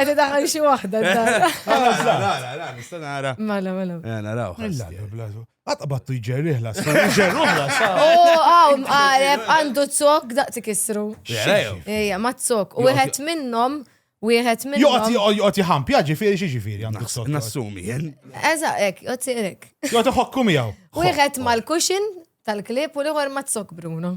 Speaker 4: Għedda daħal xie wahda. Nista
Speaker 2: nara. Mela, mela. Eh, naraw. Mela, Għata
Speaker 3: battu jġerriħ la sa. Jġerruħ la sa. U għaw, għareb,
Speaker 4: għandu t-sok daqti kisru. Ejja, ma t-sok. U għet minnom, u għet minnom.
Speaker 3: Jgħati, jgħati ħampja ġifiri xie ġifiri għandu t-sok. Nassumi, jen.
Speaker 2: Eża, ek, jgħati
Speaker 4: ek. Jgħati ħokku miegħu.
Speaker 3: U għet mal-kuxin
Speaker 4: tal-klip u l-għor ma t-sok, Bruno.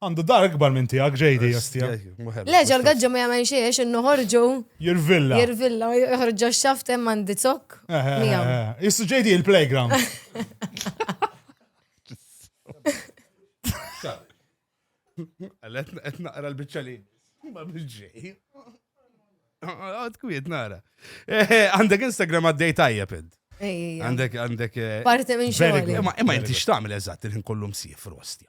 Speaker 3: Għandu dar ikbar minn tiegħek JD jastija. Le ġol gaġġa
Speaker 4: ma jagħmel xejn għax innu ħorġu. Jirvilla. Jirvilla,
Speaker 3: joħorġu
Speaker 4: x-xaft hemm għandi zokk. Eh, eh, eh, Jissu
Speaker 3: JD il-playground.
Speaker 2: Qed naqra l-biċċa li. Ma bil-ġej. Għad kwiet nara. Għandek Instagram għaddej tajjeb id. Għandek, għandek. Parti minn
Speaker 4: xogħol. Ma inti xtamil
Speaker 2: eżatt il-ħin kollu msif rostja.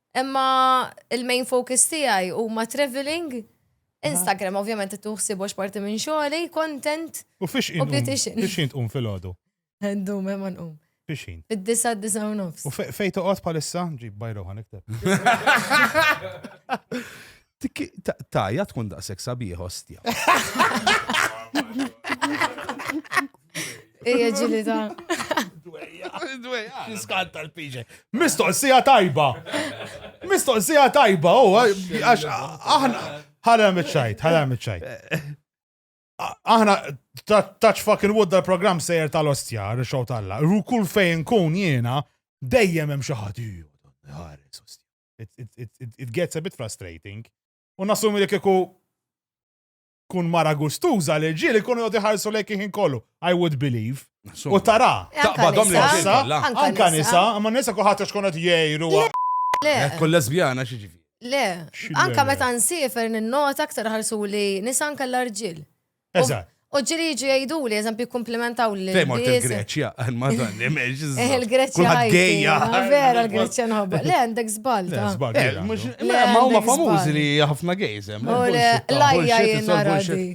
Speaker 4: Imma il-main focus tiegħi huma travelling, Instagram ovvjament qed nieħu ħsiebu għax parti minn xogħli, content u beautician. U fiex ħin tqum filgħodu?
Speaker 3: Ndum hemm ma
Speaker 4: nqum. Fiex ħin? Fid-disa'
Speaker 3: disa'
Speaker 4: u nofs. U fejn toqgħod bħalissa?
Speaker 3: Ġib bajra u ħa nikteb.
Speaker 2: Tajja tkun daqshekk sabiħ ostja.
Speaker 3: Ejja ġili ta' Fiskant tal-piġe. Mistoqsija tajba. Mistoqsija tajba, u għax aħna ħala mitċajt, ħala mitċajt. Aħna touch fucking wood dal-program sejjer tal-ostja, r-xow tal-la. Kull fejn kun jiena, dejjem hemm xi ħadd. it gets a bit frustrating. U nassumi li kieku kun mara gustuża li ġieli kunu jgħod iħarsu lejk iħin kollu. I would believe. U tara. Eh, Taqbadhom li nisa.
Speaker 2: Anka
Speaker 3: nisa,
Speaker 2: ma
Speaker 3: nisa kuħat xkun qed jgħiru. Le.
Speaker 4: Kull lesbjana
Speaker 2: xi ġifi. Le. Anka
Speaker 4: meta nsifer ninnota aktar ħarsu li nisa anka l-arġil. Eżatt. U
Speaker 3: ġiri jiġu
Speaker 4: jgħidu li, eżempju, komplimentaw li. Fej mort il-Greċja,
Speaker 2: għal-madan, imiex. Il-Greċja.
Speaker 4: Għajja. Vera,
Speaker 2: il-Greċja
Speaker 4: nħobba. Le, għandek zbalta.
Speaker 2: Ma huma famużi li ħafna gejzem. U l-lajja
Speaker 4: jena radi.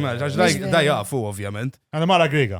Speaker 4: Ma ġax
Speaker 2: da jafu, ovvjament. Għana mara grega.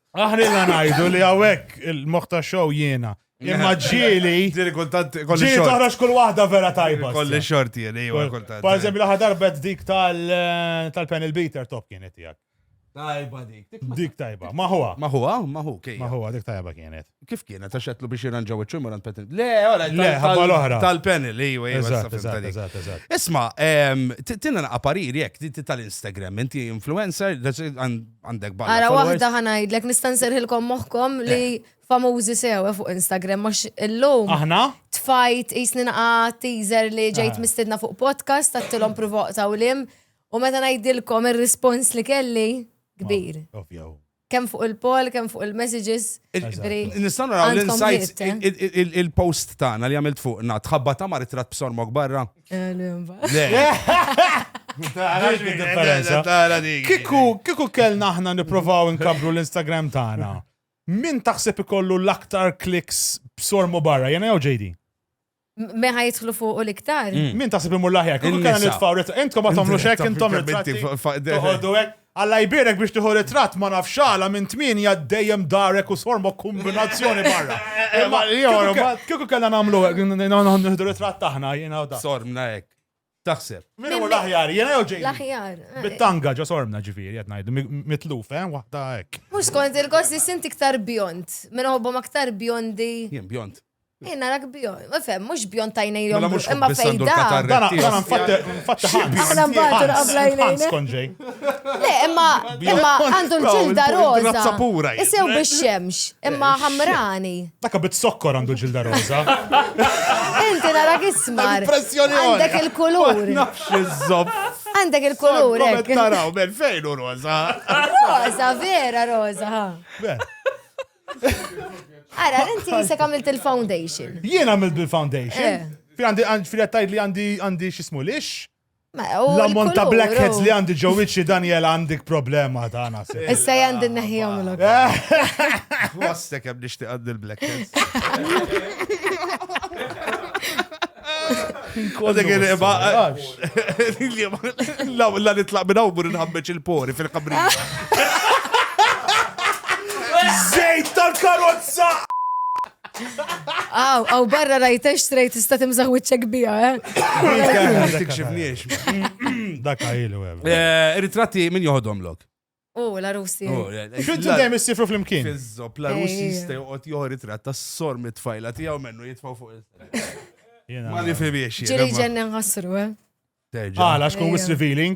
Speaker 4: Aħna illa
Speaker 3: ngħidu li hawnhekk il-moħħ ta' show jiena. Imma ġieli. Ġieli kultant kolli
Speaker 2: xorti. Ġieli toħroġ kull
Speaker 3: waħda vera tajba. Kolli xorti jieli,
Speaker 2: jew kultant. Per eżempju, laħa darbet
Speaker 3: dik eh, tal-panel beater top kienet tiegħek. Tajba dik.
Speaker 2: Dik tajba. Maħwa.
Speaker 3: Maħwa, maħu, kej.
Speaker 2: Maħwa, dik tajba kienet.
Speaker 3: Kif kienet, għax għetlu
Speaker 2: biex jirranġaw il ċumur għand Petin? Le, għara, le, ħabba l-ohra.
Speaker 3: Tal-panel, ejwa, ejwa, ejwa. Isma, ehm,
Speaker 2: tina naqa parir jek, di tal-Instagram, inti influencer, għandek bħal. Għara, wahda ħanajdlek,
Speaker 4: nistan serħilkom moħkom li eh. famużi sew eh, fuq Instagram, max illum. Aħna? Tfajt,
Speaker 3: jisni
Speaker 4: naqa teaser li ġejt ah. mistedna fuq podcast, għattilom provoqta u lim, u meta najdilkom il-respons li kelli, kbir. Ovvjaw.
Speaker 3: Kemm fuq il-poll,
Speaker 4: kemm fuq il-messages. Nistgħu
Speaker 2: naraw l-insights, il-post tagħna li għamilt fuqna, tħabba ta' mar it-trat b'sormok barra.
Speaker 3: Kiku kellna aħna niprofaw nkabru l-Instagram tagħna. Min taħseb ikollu l-aktar kliks b'sormu barra, jena jew JD? Me ħa
Speaker 4: jitħlu fuq u l-iktar. Mm. Min taħseb imur laħjar,
Speaker 3: kull kena nitfaw ritrat. Intkom ma tagħmlu xek, intom ritratti. Toħodu hekk. Alla jbirek biex tieħu ritrat ma nafx għala minn tmienja dejjem darek u sormo kombinazzjoni barra. Eh, eh, Kieku kellna nagħmlu hekk, nieħdu ritrat taħna jiena u da. Sormna hekk.
Speaker 2: Taħseb. Min hu l-aħjar,
Speaker 3: jiena jew Jamie? L-aħjar. Eh. Bit-tanga
Speaker 4: ġo sormna
Speaker 3: ġifieri qed ngħidu mitluf, eh, waħda hekk. Mhux kont il-gost li
Speaker 4: sint iktar bjond, minn ħobbhom aktar bjondi. Jien bjond.
Speaker 2: Jien narak bjond,
Speaker 4: ma fem, mhux bjond tajnej jom. Mela imma fejda.
Speaker 2: Dan dan
Speaker 4: nfatte
Speaker 3: nfatte ħan. Aħna mbagħad
Speaker 4: qabla jnejna. Skonġej.
Speaker 3: Le, imma
Speaker 4: imma għandu l-ġilda roża. Isew
Speaker 2: bix-xemx,
Speaker 4: imma ħamrani. Taka bit sokkor
Speaker 3: għandu ġilda roza.
Speaker 4: Inti nara kismar. Impressjoni Għandek
Speaker 2: il-kulur.
Speaker 4: Nafx iżob.
Speaker 2: Għandek il-kulur.
Speaker 4: Għandek taraw, ben
Speaker 2: fejn u roza. Roza,
Speaker 4: vera roza. Ara, inti jisek għamilt il-foundation. Jien għamilt
Speaker 3: bil-foundation. Eh. Fi għandi, fi għattajt li għandi, għandi xismu lix. L-ammont ta' blackheads li għandi ġo wiċċi Daniel għandik problema ta' għana. Issa għandi n-neħijom
Speaker 4: l Għastek għab
Speaker 2: nishti għandi l-blackheads. La nitlaq minna u bur nħammeċ il-pori fil-kabri.
Speaker 3: Zejt tal-karozza!
Speaker 4: Aw, aw barra rajtex strejt tista' timżaħ wiċċek bija,
Speaker 2: eh?
Speaker 3: Dak għajlu, eh, Ritratti min
Speaker 2: joħodhom lok? U, la Russi.
Speaker 4: Xuddu dejjem
Speaker 3: issifru fl-imkien. Fizzop, la Russi
Speaker 2: jista' joqgħod joħor ritratt tas-sor mit-tfajla tiegħu mennu jitfgħu fuq il-sera. Ma nifhimiex. Ġiri ġenna nħassru,
Speaker 4: eh? Għala,
Speaker 3: xkun wis revealing?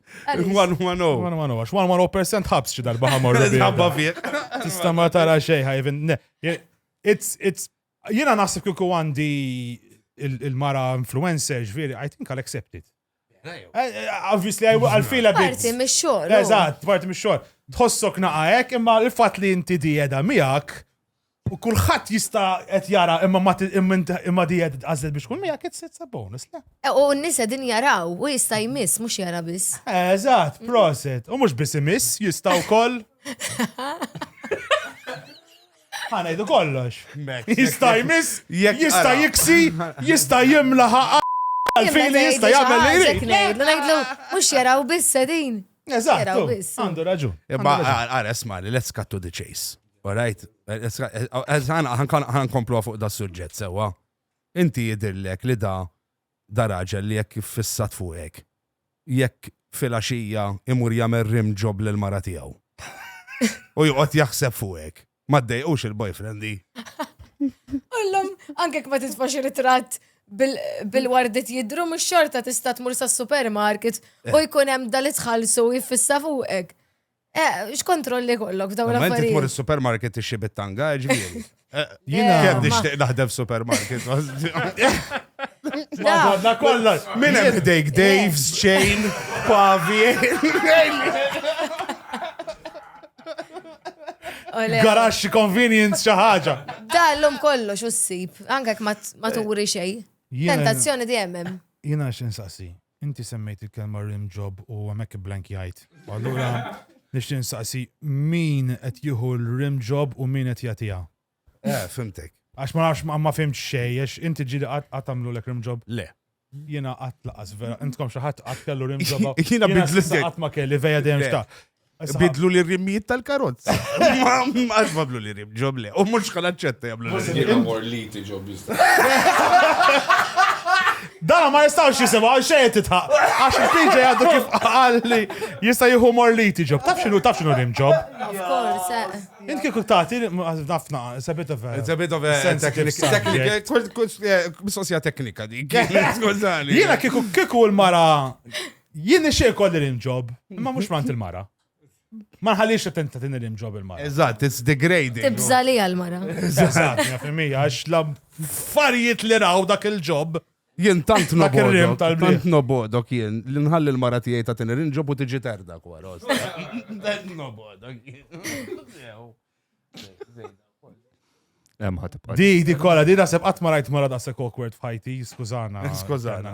Speaker 2: 110. 110, għax
Speaker 3: 110% ħabs xi darba ħamor. Ħabba fih.
Speaker 2: Tista' ma tara
Speaker 3: xejn ħajvin. It's, it's, jena naħseb kiku għandi il-mara influencer ġviri, I think I'll accept it. Eh, eh, obviously, I'll feel a bit. Parti mis xogħol. Oh.
Speaker 4: Eżatt, parti mis
Speaker 3: xogħol. Tħossok naqajek, imma l-fat li inti di edha miegħek, U kulħadd jista' qed jara imma ma imma di qed tqażel biex kull miegħek it's it's a bonus, le? E, U n-nisa din
Speaker 4: jaraw u jista' jmiss mhux jara biss. Eżatt, proset.
Speaker 3: U mhux biss imiss, jista' wkoll. Ħanajdu kollox. Jista' jmiss, Jekk jista' ara. jiksi, jista' jimla ħaqqa. Għalfejn li jista' jagħmel li jrid. Ngħidlu, ngħidlu,
Speaker 4: mhux jaraw biss sedin. Eżatt, Jaraw biss.
Speaker 3: għandu
Speaker 4: raġun. Imma
Speaker 3: għara,
Speaker 2: esma li let's cut to the chase. Alright, għan komplu fuq da suġġett sewa. Inti jidirlek li da da raġel li jekk fissat fuqek. Jekk fil-axija imur jamel rim ġob l-mara tijaw. U juqot jaħseb fuqek. Ma d-dejqux il-boyfriendi.
Speaker 4: Ullum, anke ma titfax ritrat bil-wardit jidru, mux xorta tista tmur sa' supermarket u jkunem dal-itħalsu jiffissa fuqek. Eh, x'kontrolli kollok f'dawn l-affarijiet. Ma inti tmur is-supermarket
Speaker 2: tixxi
Speaker 4: bit-tanga,
Speaker 2: ġifieri. Eh, Jina. Eh, Kemm
Speaker 3: nixtieq naħdem
Speaker 2: f'supermarket. Madonna
Speaker 3: kollha. Min hemm ħdejk
Speaker 2: Dave's, Chain, Pavi.
Speaker 3: Garax convenience xi ħaġa. Dallhom kollox
Speaker 4: u ssib, anke ma turi xejn. Tentazzjoni dejjem hemm. Jina x'insassi.
Speaker 3: Inti semmejt il-kelma rim job u hemmhekk ibblankjajt. U allura nixtieq insaqsi min qed jieħu l-rim job u min qed jagħtiha? Eh, fhimtek.
Speaker 2: Għax ma nafx
Speaker 3: ma fhimt xejn, għax inti ġieli qatt qatt għamlulek rim job? Le. Jiena
Speaker 2: qatt
Speaker 3: laqas vera, intkom xi ħadd qatt kellu rim job? Jiena bidlek. Qatt
Speaker 2: ma kelli veja
Speaker 3: dejjem xtaqt. Bidlu li
Speaker 2: rimmijiet tal-karozza. Għax bablu li rim, ġob le. U mux xħan ċetta jablu li rim. Jina mor li ti ġob
Speaker 7: jista.
Speaker 3: Da ma jistax jisema, xejn titħaq. Għax il-pinġa jgħaddu kif għalli jista jieħu mor li ti ġob. Taf xinu, taf xinu rim ġob. Of course.
Speaker 4: Eh. Int kieku tagħti
Speaker 3: nafna, it's a bit of a. It's a bit of a
Speaker 2: technical,
Speaker 3: eh, mistoqsija teknika
Speaker 2: dik. Skużani. Jiena kieku kieku
Speaker 3: l-mara Jien nixtieq ikolli rim job, imma mhux mant il-mara. Ma nħallix attenta tini rim job il-mara. Eżatt, it's degrading.
Speaker 2: Tibża li għal-mara.
Speaker 4: Eżatt, jaf
Speaker 3: imija, għax la affarijiet li raw dak il-ġob. Jien tant Dak
Speaker 2: ir-rim nobodok, tal-bliet. tant
Speaker 3: nobodok jien,
Speaker 2: li nħalli l-mara tiegħi ta' tini rim job u tiġi terda kwa rost. Tant nobodok
Speaker 6: jien. Hemm ħatibqa'. Di, di kolla, di nasib
Speaker 3: qatt ma rajt mara da' sek awkward f'ħajti, skużana. Skużana.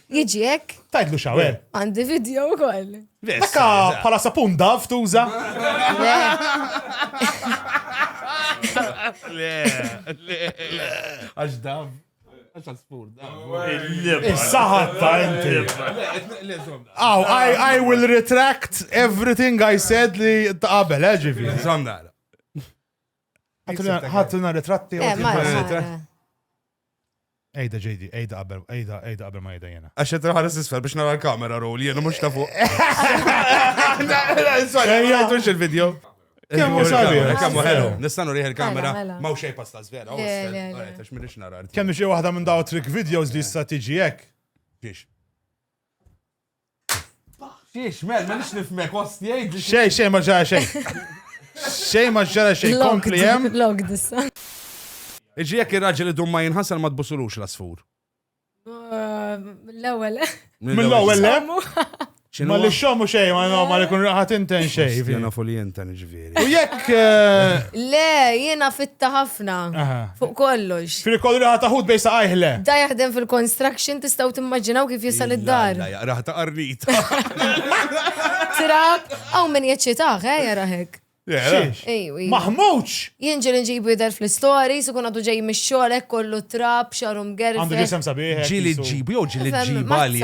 Speaker 4: Jiġi hekk. Tajdlu xawer.
Speaker 3: Għandi video
Speaker 4: wkoll. Dakka
Speaker 3: bħala sapun dav tuża. Le,
Speaker 2: le, le. Għax dav. Għax għaspur dav. Saħatta
Speaker 3: inti. Aw, I will retract everything I said li taqabel, ġifi. Zomna. Ħatlina ritratti. Eh, Ejda JD, ejda qabel, ejda, ejda qabel ma ejda jena. Għax qed nħares isfel biex nara
Speaker 2: l-kamera roll, jena mhux ta' fuq.
Speaker 3: Ejja, tux il-video.
Speaker 2: Kemm hu
Speaker 3: sabi? Kemm hu ħelu? Nistanu
Speaker 2: rieħ il-kamera mela, mela. ma u xejn pasta
Speaker 4: żvera.
Speaker 2: Għax minix
Speaker 4: nara.
Speaker 2: Kemm xi waħda minn daw
Speaker 3: trick videos li issa tiġi hekk. Biex.
Speaker 2: Xiex, mel, ma nix nifmek, ost, jgħid. Xej, xej, ma ġara xej.
Speaker 3: Xej, ma ġara xej, kompli jem. Log dissa.
Speaker 4: Iġi
Speaker 2: jek il-raġel idum ma jinħasal ma tbusulux l-asfur.
Speaker 4: Uh, L-ewel. Mill-ewel, le?
Speaker 3: Ma li
Speaker 2: xomu
Speaker 3: xej, ma no, ma li kun raħat inten xej. Jena fu li jinten
Speaker 2: ġvi. U jekk.
Speaker 3: Eh,
Speaker 4: le, jiena fitta ħafna. Fuq kollox. Fil kollu li ħata ħut bejsa
Speaker 3: għajħle. Da jaħdem
Speaker 4: fil-construction tistaw timmaġinaw kif jisal id-dar. Raħta qarnit. Trab, għaw minn jaċċitaħ,
Speaker 2: eh,
Speaker 4: jaraħek. Maħmuċ!
Speaker 3: Jinġil nġibu
Speaker 4: jidher fl-istori, su kun għadu ġej mix-xogħol hekk kollu trab, xarum gerf. Għandu ġisem sabiħ. Ġili
Speaker 3: ġibu jew ġili
Speaker 2: ġiba li.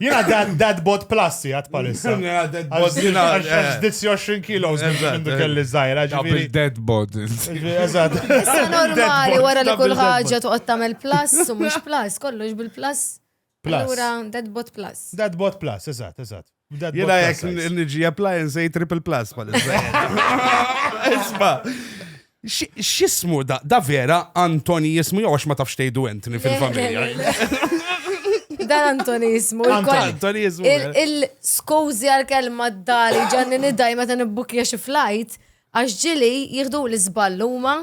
Speaker 3: Jina dan dead bot plus jgħat palissa. Jina dead bot jina.
Speaker 2: Għax
Speaker 3: 20 kilos minn kelli zaħira. Ġabri dead bot.
Speaker 7: Eżad.
Speaker 3: Issa
Speaker 4: normali wara li kull ħagġa tuqgħod
Speaker 2: tagħmel
Speaker 4: plus u mhux plus, kollox bil-plus. Plus. Allura
Speaker 3: dead bot
Speaker 4: plus. Dead bot plus, eżad,
Speaker 3: eżad. Jina jek
Speaker 2: nġi appliance triple plus palissa. Isma. X'ismu da? Da vera Antoni jismu jew għax ma tafx tgħidu Anthony fil-familja?
Speaker 4: Dan Antoni jismu. Antoni jismu.
Speaker 2: Il-skużi
Speaker 4: għal-kelma d-dali ġanni nidaj meta nibbukja xi flajt, għax ġili jieħdu l-iżball huma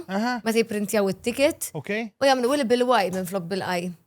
Speaker 4: meta jipprintjaw it-ticket u jagħmlu il
Speaker 3: bil-waj
Speaker 4: minn flok bil-qaj.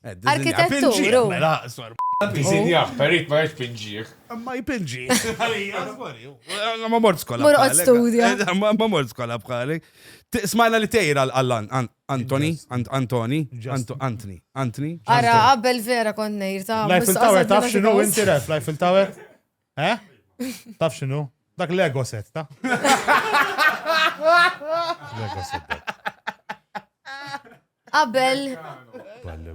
Speaker 4: Arkitettur.
Speaker 7: Disinjaħ, perit ma jpinġiħ. Ma
Speaker 2: jpinġiħ. Ma mort skola. Mor għod studja.
Speaker 4: Ma mort skola
Speaker 2: bħali. Smajna li tejra għallan, Antoni, Antoni, Antoni,
Speaker 4: Antoni. Ara, għabbel vera konnejr ta' Life il-Tower, taf xinu
Speaker 3: inti ref, Life il-Tower? Eh? Taf xinu? Dak Lego set, ta? Lego set.
Speaker 4: Qabel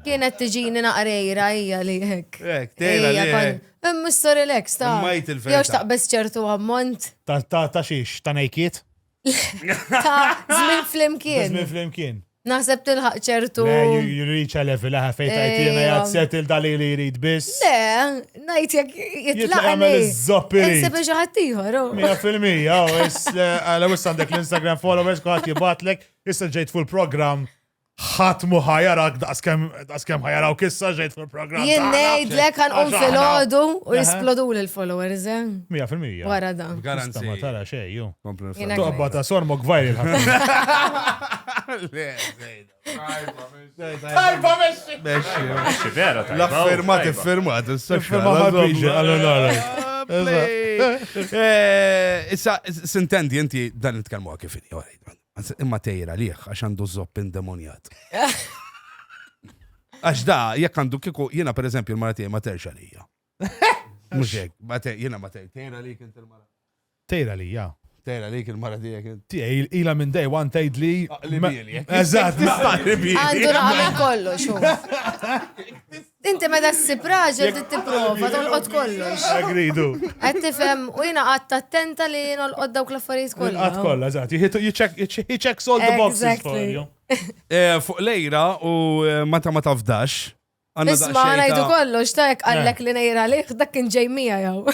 Speaker 4: kienet tiġini naqrejra hija li hekk. Hekk, tejra li hekk.
Speaker 2: Hemm relax
Speaker 4: ta. Jew xtaqbes
Speaker 2: ċertu
Speaker 4: ammont. Ta' ta' xiex,
Speaker 3: ta' nejkiet?
Speaker 4: Zmin flimkien. Zmin flimkien.
Speaker 3: Naħseb tilħaq
Speaker 4: ċertu. You reach
Speaker 3: a level laħa fejn tajtina eh, jgħad settle dali li jrid biss. Le, najt
Speaker 4: jek jitlaq. Għamil
Speaker 3: iż-zoppi. Nsib
Speaker 4: ġaħat
Speaker 3: tiħor.
Speaker 4: Oh. Mija fil-mija,
Speaker 3: oh, eh, għala wis għandek l-Instagram followers, kħat jibatlek, issa ġejt full program. ħadd mu ħajarak daqskemm ħajarawk issa ġejt fil-programm. Jien ngħidlek għan
Speaker 4: qum filgħodu u jisplodu l-followers, eh? Mija fil-mija. Wara
Speaker 3: da. Garanzi.
Speaker 4: Ma tara xej,
Speaker 2: ju.
Speaker 3: Tobba ta'
Speaker 4: sormok
Speaker 3: vajri Tajba
Speaker 2: meċi. Meċi, meċi, vera. L-affermat, affermat, s-sefra. Issa, sintendi, inti dan il-tkalmu għakifini, għarajt. Anzi, imma tejra għalih għax għandu zopp indemonjat. Għax da, jekk għandu kiku, jiena per eżempju l-mara tiegħi ma terx għalija. Mhux hekk, ma te- jiena ma tejra. Tejra għalik int il-mara. Tejra li, ja.
Speaker 3: Tejra għalik il-mara
Speaker 2: tiegħek int. Tiegħi ila minn day one
Speaker 3: tgħid li. Aqli bieli, jekk.
Speaker 2: Eżatt, Tista'
Speaker 3: li bieli. Għandu
Speaker 4: raqa minn kollox. hu. Inti meta ssib raġel trid tipprova tolqot kollox. Agridu. Qed
Speaker 3: tifhem
Speaker 4: u jiena qatt attenta li nolqot dawk l-affarijiet kollha. Qatt kollha, eżatt. He
Speaker 3: checks all the boxes for you.
Speaker 4: Eh,
Speaker 3: fuq lejra
Speaker 2: u eh, meta ma tafdax.
Speaker 4: Isma' ngħidu kollox ta' jekk qallek eh.
Speaker 2: li
Speaker 4: nejra liħ dak kien ġej mija jew.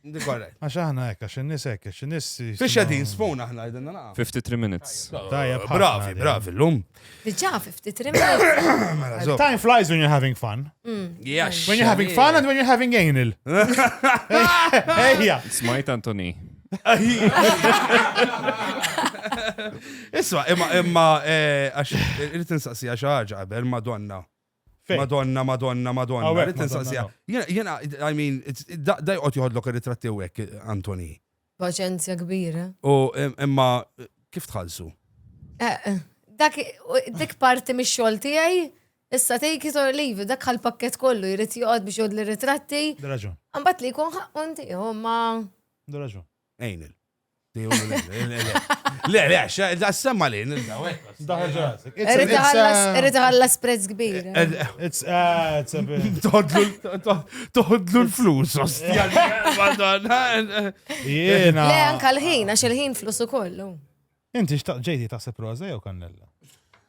Speaker 2: Correct. Għax aħna hekk, għax
Speaker 3: in-nies hekk, għax in-nies. Fiex qegħdin spoon
Speaker 2: aħna qegħdin naqgħu. 53 minutes.
Speaker 6: Tajja, bravi,
Speaker 2: bravi llum. Diġà 53
Speaker 4: minutes. Time flies when you're
Speaker 3: having fun. Mm. Yes. When you're
Speaker 2: having fun and
Speaker 3: when you're having anal. Ejja. Smajt
Speaker 6: Antoni.
Speaker 2: Isma, imma imma eh, għax irid insaqsi għax ħaġa qabel Madonna. Fejn? Madonna, Madonna, Madonna. Hawnhekk, Rrid Madonna, insaqsiha. no. Jiena, jiena, I mean, it's- da da joqgħod joħodlok ir-ritratti u hekk, Antoni. Paċenzja
Speaker 4: kbira. U im- imma
Speaker 2: kif tħallsu? Eh, eh, Dak,
Speaker 4: u dik parti mix xogħol tiegħi, issa take it or leave, it, dak għal pakket kollu jrid joqgħod biex jgħod l-ritratti, Raġun, għambat li
Speaker 3: jkun ħaqqun
Speaker 4: tiegħu, ma. raġun.
Speaker 3: Ejnil.
Speaker 2: Le, le, da semma li,
Speaker 4: Irrid ħallas prezz kbir.
Speaker 2: Toħodlu l-flus, ostja. Jena. Le,
Speaker 3: anka l-ħin, għax
Speaker 4: il-ħin flus u kollu. Inti xtaq
Speaker 3: ġejdi ta' seproza jew kannella?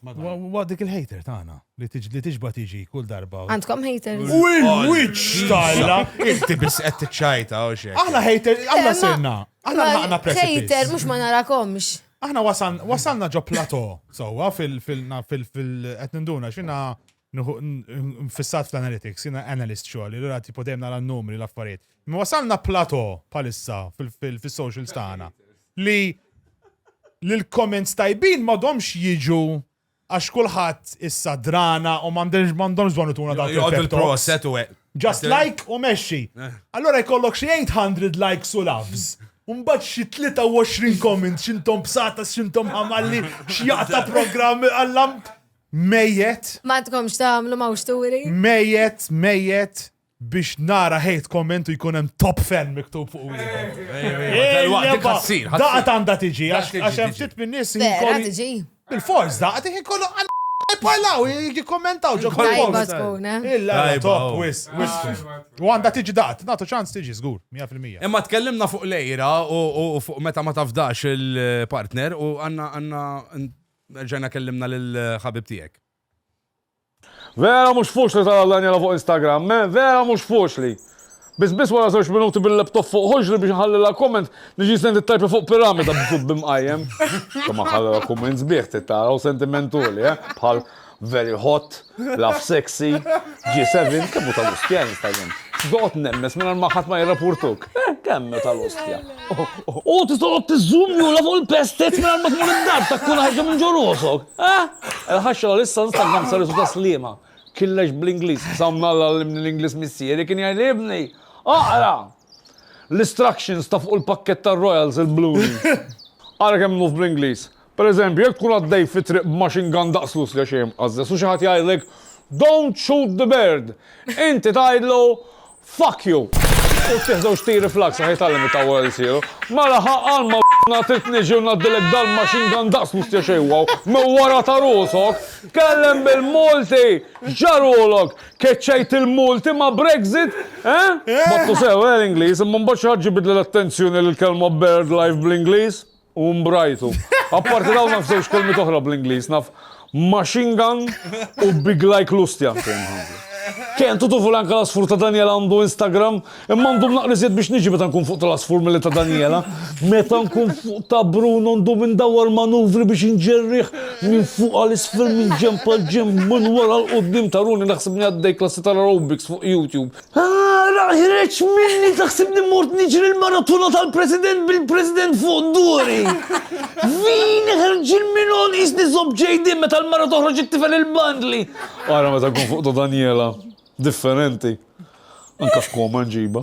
Speaker 2: Wa dik
Speaker 3: il-hater tagħna li tiġba tiġi kull darba. Għandkom hater. U
Speaker 4: il-witch
Speaker 3: tajla. Inti biss qed
Speaker 2: tiċċajta u xejn. Aħna hater, aħna
Speaker 3: sirna. Aħna ħaqna presidenza. Hater mhux ma narakomx.
Speaker 4: Aħna
Speaker 3: wasalna ġo plato, sewwa fil-fil-qed ninduna xina Nuhu nfissat fl-analytics, jiena analyst xogħli, allura tipo dejjem nara n-numri l-affarijiet. Imma wasalna plato bħalissa fis-socials tagħna li l-comments tajbin ma domx jiġu għax kulħadd issa drana u m'għandhomx bżonn ituna dawk il-proset u
Speaker 2: Just like u
Speaker 3: mexxi. Eh. Allora jkollok xi 800 likes u loves. Umbat xi 23 comments x'intom bsata x'intom ħamalli x'jaqta programm għallam Mejjet. M'għandkomx
Speaker 4: tagħmlu mawxturi. Mejjet, mejjet
Speaker 3: biex nara hate comment u jkun hemm top fan miktub fuq wieħed. Daqat għandha tiġi għax hemm ftit minn nies
Speaker 4: Il-forz daqat
Speaker 3: iħin kollu Parlaw, jikkommentaw ġo post. Eh? Illa, top, wis, wis. U għanda tiġi dat, natu ċans tiġi zgur, 100%. Imma tkellimna fuq
Speaker 2: lejra u fuq meta ma tafdax il-partner u għanna għanna Rġajna kellimna lil ħabib tiegħek.
Speaker 8: Vera mhux fuċli tara l-anjela fuq Instagram, me, vera mhux fuċli. Biss biss wara żewġ minuti bil-laptop fuq ħoġli biex nħallilha comment niġi senti tajpi fuq piramida b'sub b'imqajjem. Somma ħallilha comment sbieħ trid tara u sentimentuli, eh, bħal Very hot, laugh sexy, G7, kemm hu tal-ostja jista' jien. Doqgħod nemmes mingħajr ma ħadd ma jirrapurtuk. Kemm hu tal-ostja. U tista' toqgħod tiżżumjula fuq il-pestez mingħajr ma tmur id-dar ta' kun ħajġa minn ġo rosok. Eh? Il-ħaxxa li issa nista' nagħmel sarisu ta' sliema. Killex bl-Ingliż, sa minn Alla għallimni l-Ingliż missieri kien jgħidli ibni, aqra! L-istructions ta' fuq il-pakkett tar-Royals il-blue. Ara kemm nuf bl-Ingliż. Per eżempju, jekk tkun għaddej fi triq b'machine gun daqs l-użga xejn imqażżeż u xi ħadd jgħidlek Don't shoot the bird! Inti tgħidlu Fuck you! U ttih żewġ tiri fl-għaks għax jitgħallem itawwal ilsieru. Mela ħa għal ma na trid niġi u ngħaddilek dal-machine gun daqs l-użga xejn wow minn wara ta' rusok! Tkellem bil-Malti! X'ġarulok? Keċċejt il-Malti ma' Brexit? Eh? Battu sew, eh, l-Ingliż, imma mbagħad xi ħadd ġibidli l-attenzjoni li l-kelma bird life bl-Ingliż. U mbrajtu. Apparti dawn naf żewġ kelmiet oħra bl-Ingliż, naf machine gun u big like lustja. Kien tutu fulan kalasfur ta' Daniela għandu Instagram, imma għandu naqrizet biex niġi meta nkun fuq tal-asfur mill ta' Daniela. Meta nkun fuq ta' Bruno għandu minn dawar manuvri biex nġerriħ minn fuq għal-isfel minn ġempa ġem minn wara l-qoddim ta' runi naħseb li għaddej klassi tal-aerobics fuq YouTube. Ara, ħireċ minni taħsibni mort niġri l-maratona tal-president bil-president fuq duri. Vin ħarġin minon isni zob ġejdi meta l-mara toħroġ it-tifel il-bandli. Ara, meta kun fuq Daniela, differenti. Anka xkoma nġiba.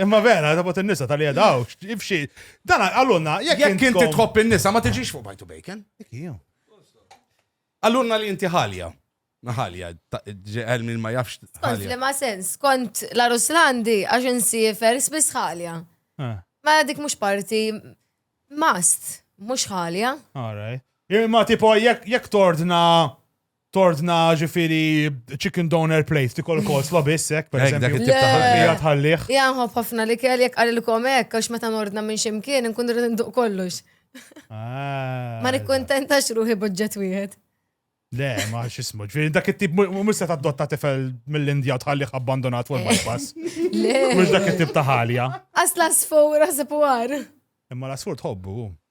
Speaker 3: Imma vera, ta' bot il-nisa tal-li għadaw, ibxi. Dan għallunna, jek jek inti tħobb
Speaker 2: il-nisa, ma tiġix fuq bajtu bacon. Għallunna li inti ħalja. Ħalja, ġeħel minn ma jafx. Kont li ma sens,
Speaker 4: kont la Ruslandi għax insifer sbis ħalja. Eh. Ma dik mux parti, mast, mux ħalja. Alright.
Speaker 3: Imma tipo, jek tordna tordna ġifiri chicken donor plate, tikol kol slobis, ek, per eżempju. Ija tħalliħ. Ija nħob ħafna
Speaker 4: li kell jek għalilkom ek, għax meta nordna minn ximkien, nkun rrid nduq kollux. Ah. Ma nikkontenta xruħi budġet wieħed. Le, ma
Speaker 3: xismu, ġviri, dak it-tip, mux se dotta tifel mill-Indja tħalliħ abbandonat fuq il-bypass. Le. Mux dak
Speaker 4: it-tip
Speaker 3: taħalja. Asla sfur,
Speaker 4: għazib għar. Imma l-asfur
Speaker 3: tħobbu.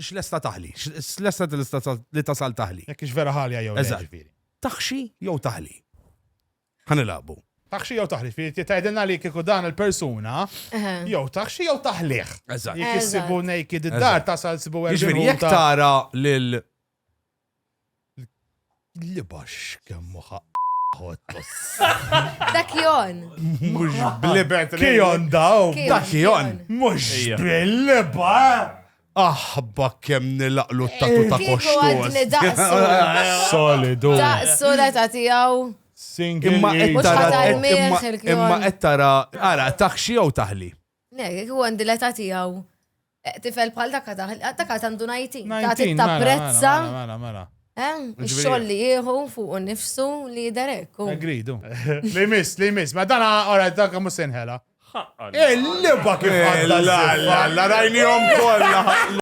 Speaker 2: x'lesta taħli, x'lesta li tasal taħli. Jekk ix vera ħalja jew
Speaker 3: ġifieri. Taħxi
Speaker 2: jew taħli. Ħanilaqbu. Taħxi jew
Speaker 3: taħli, fi tgħidilna li kieku dan il-persuna jew taħxi jew taħliħ. Eżatt. Jekk issibu
Speaker 2: naked
Speaker 3: id-dar tasal sibu Jiġifieri jekk tara
Speaker 2: lil
Speaker 3: Li baxx kemm hu ħaqq Dak
Speaker 4: Kion. Mhux
Speaker 2: blibet. Kion daw.
Speaker 3: Dak Kion.
Speaker 2: Mhux
Speaker 3: bil-liba.
Speaker 2: Aħba kemm nilaqlu t-tatu ta' koxxos.
Speaker 4: Solidu.
Speaker 3: Daqsu la ta'
Speaker 4: tiegħu. Imma
Speaker 3: qed
Speaker 2: tara imma
Speaker 4: qed tara
Speaker 2: ara taħxi jew taħli. Nek, jek u għandi
Speaker 4: l-età tiegħu eh, tifel bħal dak għadha, dak għad għandu najti, ta' 19, mela, mela, prezza,
Speaker 3: mela,
Speaker 4: mela,
Speaker 3: mela. eh, Ġifieri- xoll
Speaker 4: li jieħu fuq u nifsu li jiderek. u- Agreed, u.
Speaker 3: Li miss, li miss, ma dana, ora, dak għamu senħela. Ħaqqa. Il-liba kif għadda La la la
Speaker 2: rajnijom kolla.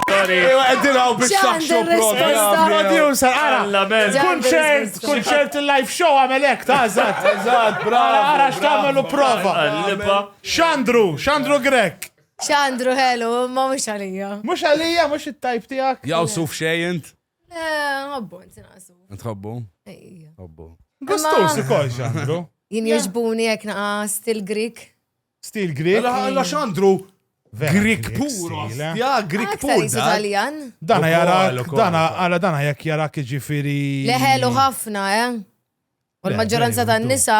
Speaker 2: Ewa, għeddilaw biex Ġan taħxu din risposta. Producer,
Speaker 3: ara. Alla, men. Ġan Kun din xejn, Kunċert il-live show għamel hekk ta' eżatt. Eżatt, bravo. Ara x'tagħmel u prova. Xandru, Xandru Grek. Xandru ħelu,
Speaker 4: ma mhux għalija. Mhux għalija, mhux
Speaker 3: it-tajp tiegħek. Jaw suf xejn.
Speaker 2: Nħobbu,
Speaker 4: eh, ntinaqsu. Nħobbu?
Speaker 2: Nħobbu. Gustus ukoll
Speaker 3: xandru. Jien jogħġbuni
Speaker 4: jekk naqas til-Grik. Stil Grieg.
Speaker 3: Mela ħalla xandru
Speaker 2: Grieg pur,
Speaker 3: ja,
Speaker 2: Grieg
Speaker 3: pur.
Speaker 4: Dana
Speaker 2: jara,
Speaker 3: dana għala dana
Speaker 2: jek jara
Speaker 3: kġifiri. Leħelu ħafna,
Speaker 4: eh? U l-maġġoranza ta' nisa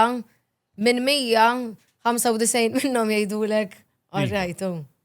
Speaker 4: minn 195 minnom jgħidulek, għarrajtu.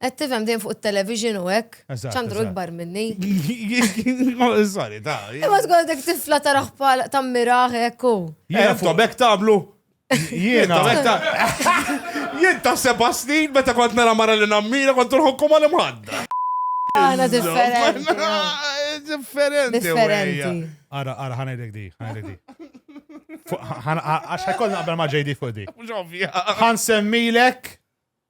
Speaker 4: Qed tifhem din fuq it-television u hekk. Eżatt, Ċandru eżatt. ikbar minni.
Speaker 2: Sorry, ta. Imma tkoll dik tifla
Speaker 4: taraħ bħal tammiraħ hekk u. Jiena fuq bek tablu.
Speaker 2: Jiena. Jien ta' seba' snin meta kont nara mara li nammira kont nħokku mal imħadda. Għana
Speaker 4: differenti. Differenti.
Speaker 2: Differenti. Ara, ara, ħanajdek
Speaker 3: di, ħanajdek di. Fuq- ħan- Għax ħajkoll naqbel ma' JD fuq di. Mhux ovvja. Ħan semmilek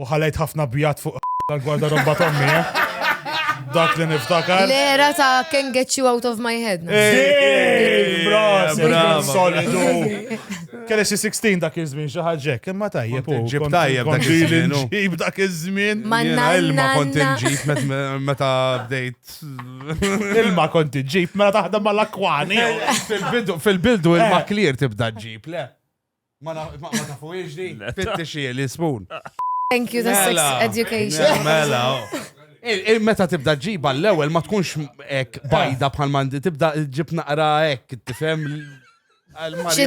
Speaker 3: U ħalejt ħafna bjad fuq tal-gwardarobba t'ommi, eh? Dak li niftakar. L-era ta' can
Speaker 4: get you out of my head.
Speaker 3: Solidu. Kelli xi 16 dak iż-żmien xi ħaġek, imma tajjeb. Ġib tajjeb dak
Speaker 2: iż-żmien. Ġib dak iż-żmien.
Speaker 3: Manna ilma
Speaker 4: kont
Speaker 2: inġib
Speaker 4: meta
Speaker 2: bdejt.
Speaker 3: Ilma kont inġib meta taħdem mal-akwani.
Speaker 2: Fil-bidu ilma eh. clear tibda ġib, le. Ma tafuhiex di? Fittixi l-ispun. Thank you, the sex
Speaker 4: Mela. education. Mela.
Speaker 2: Il- il- Meta tibda ġiba l-ewwel ma tkunx hekk bajda bħal mandi tibda ġib naqra hekk tifhem l- għal-mari-
Speaker 4: Xi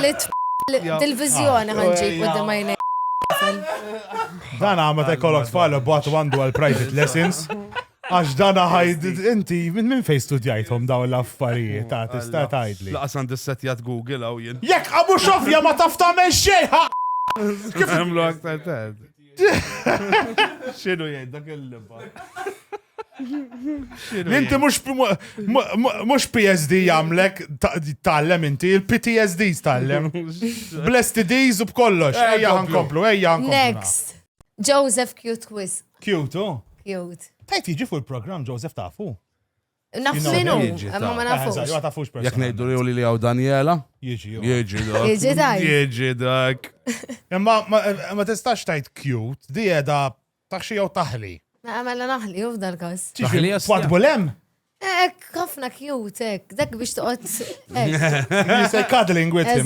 Speaker 4: li t- li- Dil-vizjoni ħanġi qudiem għajnej. Dan
Speaker 3: għamma ta' kollok tfal u bat għandu għal private lessons. Għax dana ħajd, inti minn fej studjajthom daw l-affarijiet, ta' tista' tgħidli. Laqas għandi setjat
Speaker 2: Google għaw jien. Jekk għamu xofja ma
Speaker 3: taf tagħmel xejn ħa. Kif
Speaker 2: għamlu aktar tad? Xinu jgħid dak il-libba?
Speaker 3: Inti mux PSD jamlek tallem inti, il-PTSD tallem. Blessed days u b'kollox, eh, ejja għankomplu, ejja għankomplu. Next,
Speaker 4: Joseph Q. Twist. Cute, oh.
Speaker 3: Cute. Tajt jiġi
Speaker 4: fuq il-programm
Speaker 3: Joseph tafu. Naf
Speaker 4: minu, ma ma nafux.
Speaker 2: Ma
Speaker 4: tafux person. Jek nejdu
Speaker 3: li li li għaw
Speaker 2: Daniela? Jieġi, jieġi
Speaker 3: dak. Jieġi dak.
Speaker 2: Jieġi
Speaker 4: dak.
Speaker 2: Imma
Speaker 3: ma tistax tajt cute, di edha taħxi jew taħli. Ma għamela naħli,
Speaker 4: uf dal-kas. Taħli jasna. Twad bulem?
Speaker 3: Ek,
Speaker 4: ħafna cute, ek. Dak biex toqgħod. You say cuddling
Speaker 3: with him.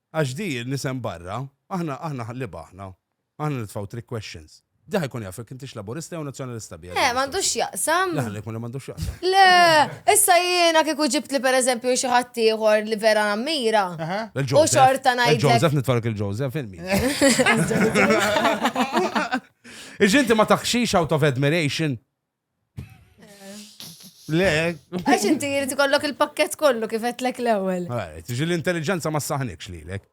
Speaker 2: Għax di l-isem barra, aħna, aħna ħliba aħna. Aħna nitfgħu trick questions. Di ħa jkun jaf jekk intix Laburista jew Nazzjonalista biha. Le, m'għandux x'jaqsam.
Speaker 4: Le, ħalli jkun li m'għandux x'jaqsam.
Speaker 2: Le, issa
Speaker 4: jiena kieku ġibtli pereżempju xi ħadd ieħor li vera nammira. U xorta ngħidlek. Il-Joseph nitfark il-Joseph,
Speaker 2: filmi. Iġinti ma taħxix out of admiration? Le. Għax inti jrid
Speaker 4: ikollok il-pakket kollu kif qedlek l-ewwel. Tiġi l-intelligenza
Speaker 2: ma saħnikx lilek.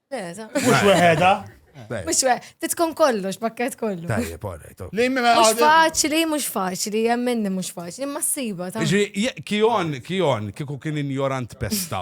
Speaker 4: Mhux
Speaker 3: weħeda. Mux we,
Speaker 4: titkun kollox, pakket kollu. Tajjeb, orrejt.
Speaker 2: Mux faċli,
Speaker 4: mux faċli, jemminni mux faċli, ma s-siba. Kion,
Speaker 2: kion, kiku kien injorant pesta.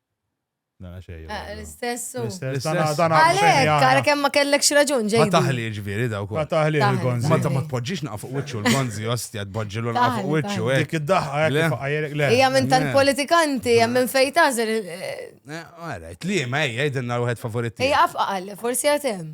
Speaker 3: Nara xejn. Eh, l-istess.
Speaker 4: L-istess.
Speaker 3: Għalek, għalek hemm
Speaker 4: ma kellekx raġun ġej. Ma taħli
Speaker 2: ġviri
Speaker 4: daw kol.
Speaker 2: Ma taħli l-gonzi. Ma ta' ma
Speaker 3: tpoġġix naqaf
Speaker 2: fuq wiċċu l-gonzi, ostja tpoġġilu naqaf fuq wiċċu. Eh. Dik id-daħqa
Speaker 3: għajrek le.
Speaker 2: Ija minn tant
Speaker 4: politikanti, hemm minn fejn tażel. Eh, Għarajt,
Speaker 2: li ma ejja jidinna l-wieħed favorit. Ija afqal, forsi
Speaker 4: għatem.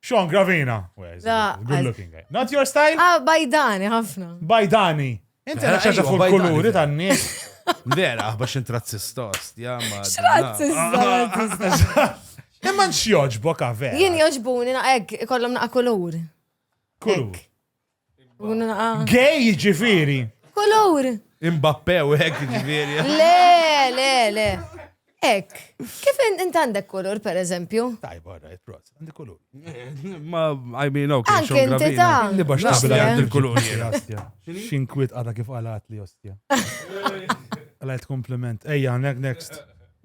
Speaker 2: Sean
Speaker 3: Gravina. Good
Speaker 4: looking guy. Not
Speaker 3: your style? Ah, bajdani, ħafna.
Speaker 4: Bajdani.
Speaker 3: Inti għana ċaċa fuq kuluri
Speaker 2: tan nies
Speaker 3: Vera, ah,
Speaker 2: bax intrazzista, ostja, ma. Trazzista.
Speaker 4: Imma nxjoġbok
Speaker 3: għavera. Jien joġbuni naqek,
Speaker 4: kollom naqa kulur. Kulur. Gay ġifiri.
Speaker 3: Kolor.
Speaker 4: Mbappe u
Speaker 2: hekk ġifiri. Le, le,
Speaker 4: le. Ek, kif int għandek kulur, per eżempju? Tajb, għarrajt, pros,
Speaker 3: għandek kulur. Ma,
Speaker 2: I mean, ok, Anke xon inti ta. grabina.
Speaker 4: Li bax naqbel Naqbel għand
Speaker 3: il-kulur jien. Ostja.
Speaker 2: Xinkwit
Speaker 3: għada kif għalat li ostja. Għalajt kompliment. Ejja, ne- next.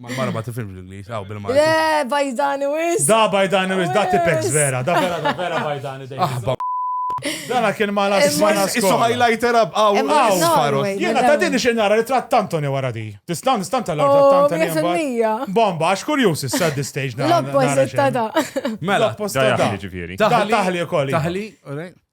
Speaker 3: Mal-mara ma tifimx
Speaker 2: l-Inglis, għaw bil-mara. Le, bajdani
Speaker 4: wis. Da bajdani wis, da
Speaker 3: tipex vera, da vera, da vera bajdani dejjem. Aħba. Dana kien ma la s-sena Isu highlighter up,
Speaker 2: għaw, għaw, farot.
Speaker 4: Jena ta'
Speaker 2: din xie
Speaker 4: nara li
Speaker 3: tratt Antoni wara di. Tista' nistan tal għar oh, tratt Antoni. Bomba, għax
Speaker 4: kurjus issa
Speaker 3: di stage. L-opposit ta' da.
Speaker 4: Mela, l-opposit ta'
Speaker 2: da.
Speaker 3: Taħli, ġifiri. Taħli, taħli,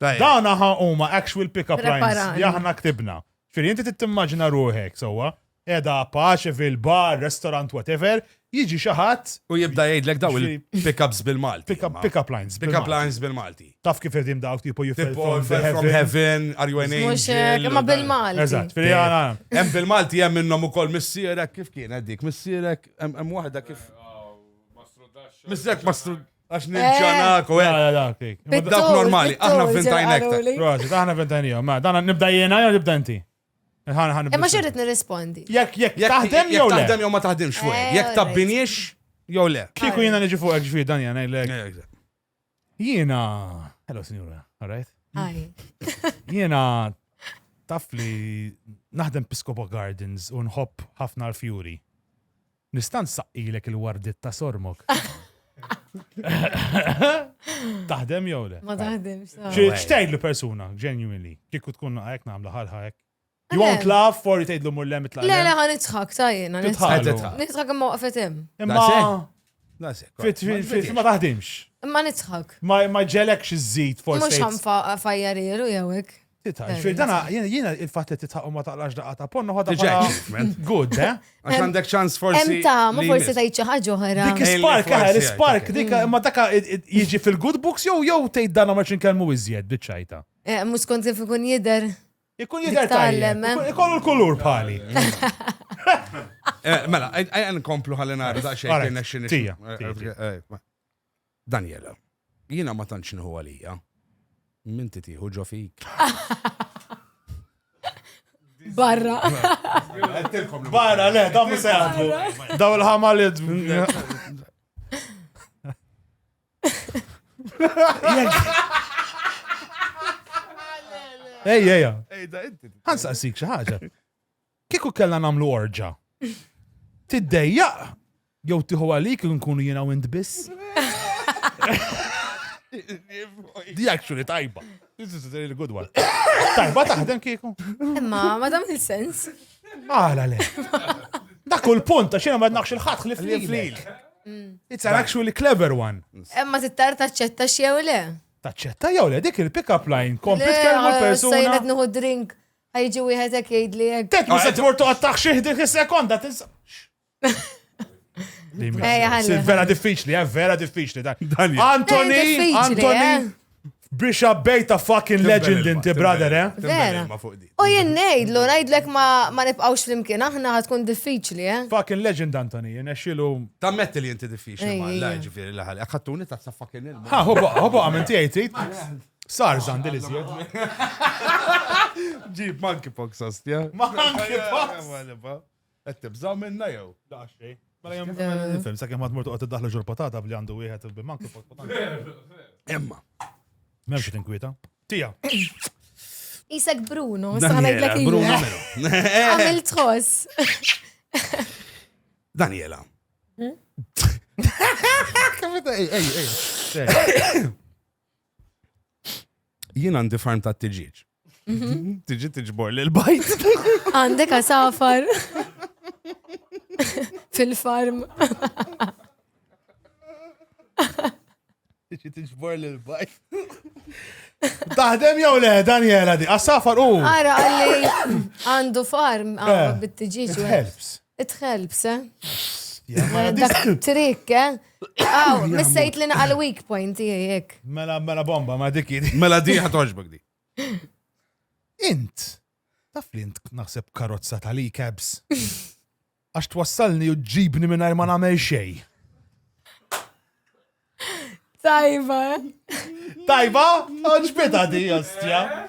Speaker 3: Dawn aħa huma actual pick-up lines li aħna ktibna. Fir inti tittimmaġina ruħek sewwa, edha paċe fil-bar, restaurant, whatever, jiġi xi ħadd. U jibda jgħidlek daw
Speaker 2: il-pick-ups bil-Malti. Pick-up lines. Pick-up
Speaker 3: lines bil-Malti.
Speaker 2: Taf kif qegħdin dawk
Speaker 3: tipo you fell from heaven,
Speaker 2: are
Speaker 3: you an
Speaker 2: angel? Imma
Speaker 4: bil-Malti.
Speaker 2: Eżatt,
Speaker 4: fil
Speaker 3: Hemm bil-Malti hemm
Speaker 2: minnhom ukoll missierek kif kien dik missierek hemm waħda kif. Missierek ma Għax nil-ġanak u għek. Dak normali, aħna vintajn ektar. Prosit, aħna vintajn
Speaker 3: jom. Ma, dan nibda jena jew nibda inti? Imma
Speaker 4: xerrit nirrispondi. Jek, jek, taħdem
Speaker 3: jew le? Taħdem jew ma taħdem xwe. Eh,
Speaker 2: jek tabbinix jew le. Kiku jena nġi fuq ġvi
Speaker 3: dan jena jlek. Eh, jena. Hello, signora. All right? Hi.
Speaker 4: Jena
Speaker 3: taf li naħdem Piscopo Gardens u nħobb ħafna l-fjuri. Nista' nsaqqilek il-wardiet ta' sormok? Taħdem jew le? Ma taħdimx.
Speaker 4: X'tgħidlu persuna,
Speaker 3: genuinely, kieku tkun naqa' hekk nagħmlu ħalħa hekk. You won't laugh or tgħidlu mur lem itlaq. Le le ħa nidħak ta'
Speaker 4: jiena. Nidħak imma waqfet hemm. Imma
Speaker 2: ma taħdimx.
Speaker 3: Imma nidħak.
Speaker 4: Ma ġelekx
Speaker 3: iżżid forsi. Mhux ħanfa
Speaker 4: fajjarielu jew hekk. Titħaq, ġifir dana,
Speaker 3: jiena il-fat li titħaq u ma taqlax daqqa ta' ponnu ħadha bħala
Speaker 2: good, eh?
Speaker 3: Għax għandek ċans
Speaker 2: forsi. Hemm ta' ma forsi ta'
Speaker 4: xi ħaġa oħra. Dik spark, ħar
Speaker 3: spark, dik ma daka jiġi fil-good books jew jew tgħid dana ma xinkellmu iżjed biċċajta. Eh, mhux kont kif
Speaker 4: ikun jidher. Ikun jidher
Speaker 3: tajjeb. Eh? Ikollu l-kulur bħali. Eh,
Speaker 2: mela, għajn komplu ħalli nara daqsxejn kien nexxin. Daniela, Jiena ma tantx nieħu għalija. M'inti tieħu ġo fik.
Speaker 4: Barra.
Speaker 3: Barra, le, da mhux se jaħdmu. Daw il-ħama li Ej, ej, ej. Ej, da inti. Ħansaqsik xi ħaġa. Kieku kellna nagħmlu orġa'. Tiddejjaq jew tieħu għalik li nkunu jiena u int biss? Di actually tajba. This is a really good one. Tajba taħdem kieku. Imma ma dam
Speaker 4: il-sens. Għala le.
Speaker 3: Dak u l-punt, għax jiena ma naqx il-ħadd ħlif Li li flil. It's an actually clever one. Imma tittar
Speaker 4: taċċetta xew le. Taċċetta jew le
Speaker 3: dik il-pick up line kompli tkellmu persuna. Sajnet nuhu drink.
Speaker 4: Ħajġi wieħed hekk jgħidli hekk. Tek mhux se tmur toqgħod
Speaker 3: taħxih dik is-sekonda tinsa. Vera diffiċli, eh, vera diffiċli dan. Antoni, eh, Antoni, eh. biex abbejta fucking legend inti, brother, eh? Vera. U
Speaker 4: jien nejdlu, nejdlek ma nibqawx flimkien, aħna ħatkun diffiċli, eh? Fucking legend, Antoni,
Speaker 3: jien exilu. Tammetti li inti
Speaker 2: diffiċli, ma la ġifiri laħal, għattuni ta' fucking il-ma. Ha, hobo, hobo, għamenti
Speaker 3: għajtit. Sar dan dil iżjed.
Speaker 2: Ġib monkeypox ostja. Monkeypox. Qed tibżaw minna jew? Daxxej.
Speaker 3: Mela jom nifhem sakemm ma tmur toqgħod tiddaħlu ġur patata bli għandu wieħed bi monkeypox patata. Emma. M'hemmx xi tinkwieta. Tija.
Speaker 4: Isek Bruno, sa ngħidlek il Bruno. Għamil tħoss.
Speaker 2: Daniela. Hmm? Ej, ej, ej. Jien għandi farm ta' tiġiġ. Mhm. Tiġi tiġbor li l-bajt. Għandek
Speaker 4: għasafar. Fil-farm.
Speaker 3: Tiġi tiġbor li l-bajt. Taħdem jew le, Daniela di, għasafar u. Għara għalli
Speaker 4: għandu farm għandu eh, bit-tiġiġ. It helps. It helps, eh? Dak trik, eh? Aw, missejt li naqal weak point jek. Mela, mela bomba,
Speaker 3: ma dik Mela di ħatoġbek
Speaker 2: di.
Speaker 3: Int, taf li int naħseb karozza ta' li cabs. Għax twassalni u ġibni minn ma nagħmel xej.
Speaker 4: Tajba. Eh?
Speaker 3: Tajba? Oġbita di, ostja.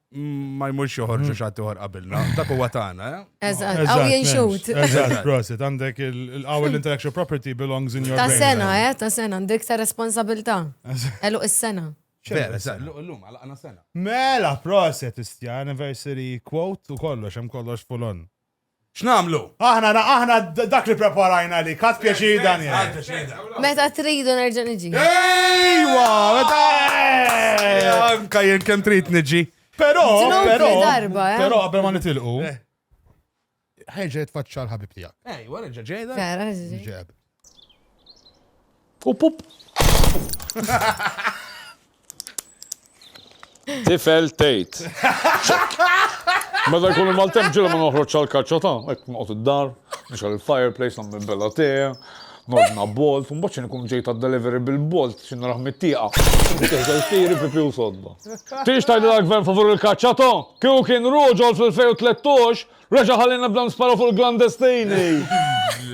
Speaker 2: ma jmurx joħorġu xattuħor qabilna, dak huwa tagħna. Eh? Eżatt, għaw
Speaker 4: jinxut. Eżatt, prosit,
Speaker 3: għandek il-għaw l-intellectual property belongs in your Ta' sena, eh, ta' sena,
Speaker 4: għandek ta' responsabilta. Elu is-sena. Vera,
Speaker 2: l-lum, għana sena. Mela, prosit,
Speaker 3: istja, anniversary quote u kollox, hemm kollox full-on. X'nagħmlu?
Speaker 2: Aħna na, aħna
Speaker 3: d, dak li ppreparajna għalik. Ħadt pjaċir, Daniel. Meta
Speaker 4: tridu nerġa' niġi. Ejwa!
Speaker 3: Meta, eh!
Speaker 2: Anka jien kemm trid niġi. Però, Ġnub
Speaker 3: però, li darba,
Speaker 4: eh. però qabel ma nitilqu.
Speaker 3: Ħerġa' jitfaċċa l-ħabib tiegħek. Ejwa, reġa' ġejda.
Speaker 2: Vera, ġi. Ġeb.
Speaker 8: Up up. Tifel tejt. Meta jkun il-maltem ġilu ma noħroġ għal-kaċċa ta' hekk noqgħod id-dar, nixgħal il-fireplace nagħmel bella tee, nordna bolt, u mbagħad ikun ġejt għad-delivery bil-bolt xi narah mit-tieqa. Teħżel tiri pipi u sodda. Tix tgħidilha l-gvern favur il-kaċċa ta' kieku kien ruġol fl-2013 Reġa' ħallina b'dan sparo fuq il-Glandestini!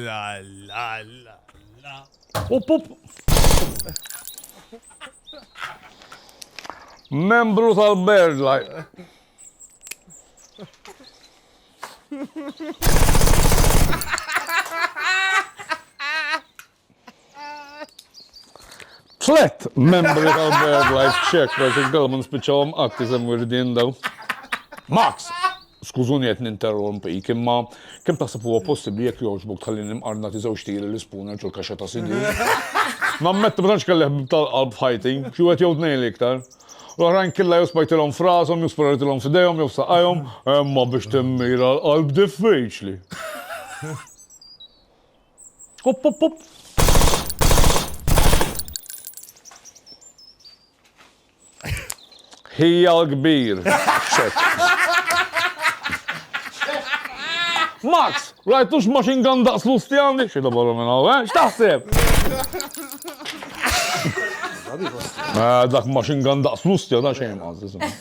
Speaker 8: La la la la. Up up. Membru tal-Birdlife. Tlet membri tal-Bird Life Check Project Dalma nispiċċawhom qatt iżem wirdin daw. Max! Skużuni qed ninterrompi, imma kemm taħseb huwa possibbli jekk jogħġbok tħalli nimqarna tiżewġ tiri l-ispuna ġol kaxxa ta' sinju. Nammetti ma tantx kelli ħbib tal-qalb f'ħajti, xi wieħed jew tnejn l-iktar. L-oħrajn killa jew spajtilhom f'rashom, jew sparajtilhom f'idejhom, jew f'saqajhom, imma biex timmira l-qalb diffiċli. Up, up, up! Hija l-kbir. Max, rajtux machine gun daqs l-ustjandi? Xida barra minna, eh? Xtaħseb? Eh, dak machine gun daqs l-ustjandi, xejn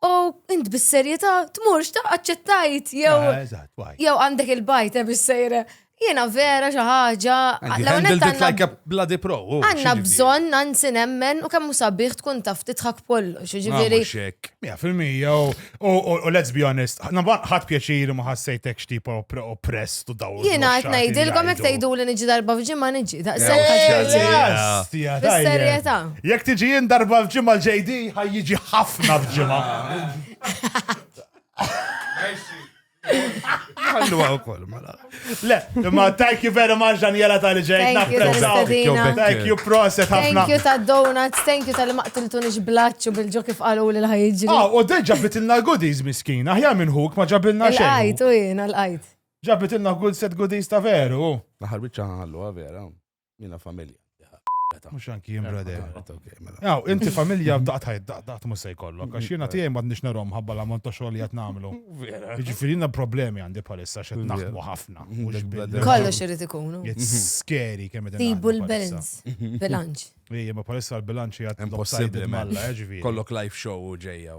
Speaker 4: U int bis-serjetà tmurx ta' aċċettajt jew ah, jew għandek il-bajt eh, bis-sejra. Jiena vera xi ħaġa.
Speaker 2: Għandna bżonn
Speaker 4: nansi nemmen u kemm hu sabiħ tkun taf titħak kollox, ġifieri. Mija
Speaker 3: fil-mija u let's be honest, ħadd pjaċir ma ħassejtek x'tip oppress u dawl. Jiena qed ngħidilkom
Speaker 4: jekk tgħidu li niġi darba f'ġimgħa niġi daqshekk. Serjetà. Jekk tiġi jien
Speaker 3: darba f'ġimgħa l-JD, ħaj jiġi ħafna f'ġimgħa.
Speaker 2: Għallu għaw kol, mala. Le, ma
Speaker 3: thank you very much, Daniela tal ġej. Thank you, proset ħafna. Thank you ta' donuts,
Speaker 4: thank you tal maqtiltu nix blaċu bil-ġo kif għalu li l-ħajġi. Ah, u d ġabitilna
Speaker 3: goodies miskin, aħjar minn huk ma ġabilna xejn. L-għajt, u jina l-għajt.
Speaker 4: Ġabitilna good
Speaker 3: set goodies ta' veru. Naħar bieċa għallu,
Speaker 2: vera. Jiena familja. Mhux
Speaker 3: anki jien brother. Aw, inti familja daqt ħajt daqt daqt mhux se jkollok għax jiena tiegħi m'għadniex narhom ħabba l-ammont ta' xogħol li qed nagħmlu. Jiġifieri jiena problemi għandi bħalissa x'qed naħdmu ħafna. Kollox
Speaker 4: irid ikunu. It's scary
Speaker 3: kemm qed. Tibu l-balance,
Speaker 4: bilanċ. Ejja, ma bħalissa
Speaker 3: l-bilanċ hija impossibbli malla,
Speaker 2: ġifieri. Kollok
Speaker 3: live show u
Speaker 2: ġejja.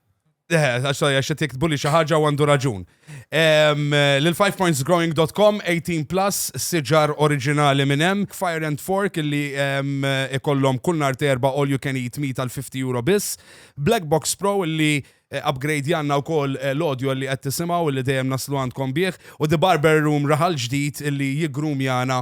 Speaker 3: Eh, għax
Speaker 2: qed jiktbu li xi ħaġa għandu raġun. Lil 5pointsgrowing.com 18 plus siġar oriġinali minn hemm, Fire and Fork illi ikollhom kull nhar terba all you can eat meat għal 50 euro biss, Black Box Pro illi eh, upgrade janna u koll eh, l-audio li għed tisimaw li dejjem naslu għandkom bieħ u The Barber Room raħal ġdid li jigrum jana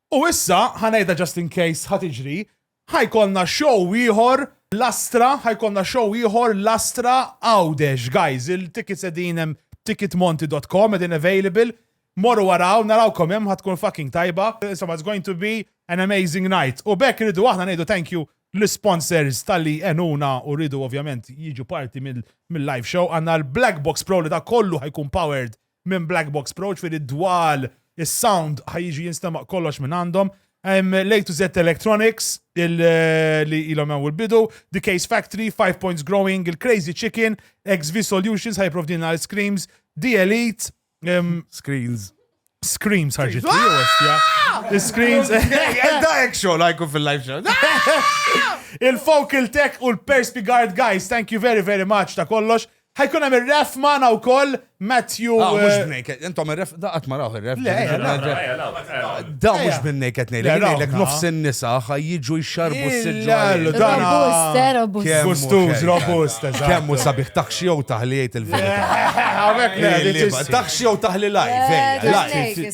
Speaker 3: U issa, ħa ngħidha just in case ħa tiġri, ħa jkollna show ieħor Lastra, ħa jkollna show ieħor Lastra Għawdex. Guys, il-tickets qegħdin hemm ticketmonti dot com qegħdin available. Morru waraw, narawkom hemm ħa tkun fucking tajba. Insomma, it's going to be an amazing night. U bekk irridu aħna ngħidu thank you l-sponsors tal-li enuna u rridu ovvjament jiġu parti mill-live show. Għanna l-Black Box Pro li da kollu ħajkun powered minn Black Box Pro, ġifieri d-dwal, is-sound ħa jiġi jinstema' kollox minn għandhom. Hemm l to Z Electronics li ilhom hemm il-bidu, The Case Factory, Five Points Growing, il-Crazy Chicken, XV Solutions ħaj provdina l-Screams, The Elite, Screens. Screams ħarġit li jostja. Screams. Edda
Speaker 2: eksho lajku fil-live show. Il-Focal
Speaker 3: Tech u l-Perspigard guys, thank you very very much ta' kollox. Ħajkun hemm ir-ref magħna wkoll Matthew. Ah, mhux eh, b'nejket,
Speaker 2: intom ir-ref da qatt ma rawh ir-ref. Le, eh, eh, da mhux b'nejket ngħidlek, ngħidlek nofs in-nisa ħajjiġu jxarbu s-siġġa. Robust, robust.
Speaker 3: Gustuż, robust, eżatt. Kemm hu sabiħ
Speaker 2: taħxi jew taħliet il-verità. Taħxi jew taħli live, live.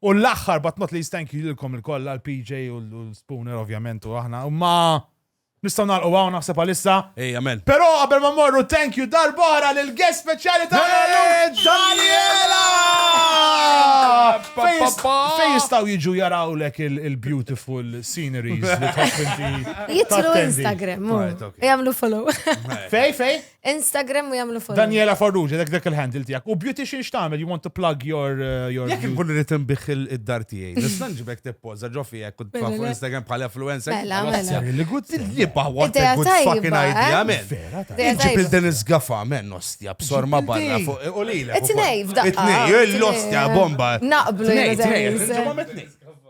Speaker 3: U l-aħħar but not least thank you lilkom il-koll għal PJ u l-Spooner ovvjament u aħna. Ma nistgħu nagħlqu hawn naħseb għalissa. Ej, amen. Però
Speaker 2: qabel ma morru
Speaker 3: thank you darbora lil guest speċjali ta' Daniela! Fejn jistgħu jiġu jarawlek il-beautiful sceneries li tħoss inti. Jitru
Speaker 4: Instagram, jagħmlu follow. Fej, fej?
Speaker 3: Instagram
Speaker 4: u jamlu follow. Daniela Farrugia, dak dak
Speaker 3: il-handle tijak. U beautician xtamel, you want to plug your... Uh, your Jek nkun rrit
Speaker 2: nbiħ il-dar tijaj. Nistan ġibek t-pozza ġofi jek kut mela, fuq Instagram bħala influencer. Mela, mela. Li gud
Speaker 4: t-liba,
Speaker 2: what a good fucking idea, eh? men. Vera, ta' Ġib il-Dennis Gaffa, men, nostja, b'sor ma barra fuq. U li l-ek. Etnej,
Speaker 4: f'daqqa. Etnej, l-ostja,
Speaker 2: bomba. Naqblu,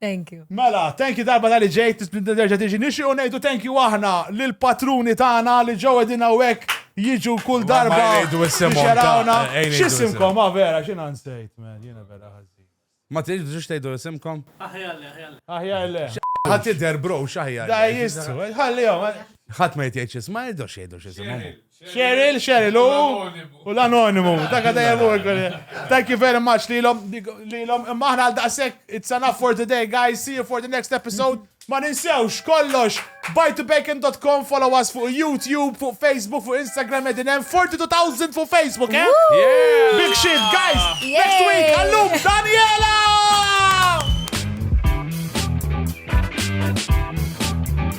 Speaker 3: Thank you. Mela,
Speaker 4: thank you darba tal-li
Speaker 3: ġejt, tisplinta terġa tiġi. Nixi u nejdu thank you aħna l-patruni tagħna li ġew edin għawek jiġu kull darba. Ma jgħidu issimhom. Xerawna. Xissimkom, ma vera, xina nsejt, man, jina vera ħazzi. Ma tiġi biex
Speaker 2: tgħidu isimkom? Aħjalle,
Speaker 3: aħjalle. Aħjalle. Ħadd jidher
Speaker 2: bro, x'aħjar. Da jistru,
Speaker 3: ħallihom. Ħadd ma jgħid
Speaker 2: xisma, jgħidu x'jgħidu x'ismhom. Cheryl, Cheryl,
Speaker 3: u l-anonimu. Dak għadajem u Thank you very much li l-om, li l-om, imma ħna għal-daqsek, it's enough for today, guys, see you for the next episode. Ma ninsewx, kollox, buytobacon.com, follow us fuq YouTube, fuq Facebook, fuq Instagram, edinem, 42,000 fuq Facebook, eh? Yeah! Big shit,
Speaker 2: guys!
Speaker 3: Next week, għallum, Daniela!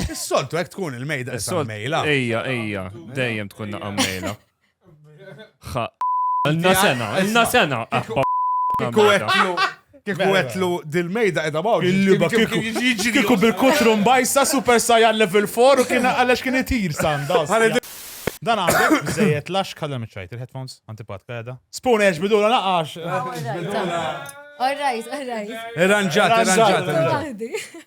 Speaker 7: Is-soltu
Speaker 2: hekk tkun il-mejda is-mejla. Ejja, ejja,
Speaker 7: dejjem tkun naqqa mejla. Ħa. Inna sena, inna sena. Kiku għetlu,
Speaker 2: kiku għetlu dil-mejda edha baw. Il-liba kiku.
Speaker 3: Kiku bil-kutrum bajsa super sajan level 4 u kien għalax kien itir sanda. Dan għandek bżejet lax kalla miċajt il-headphones, antipat kada. Spoon eġ bidula naqax.
Speaker 4: All right, all right. Irranġat, irranġat.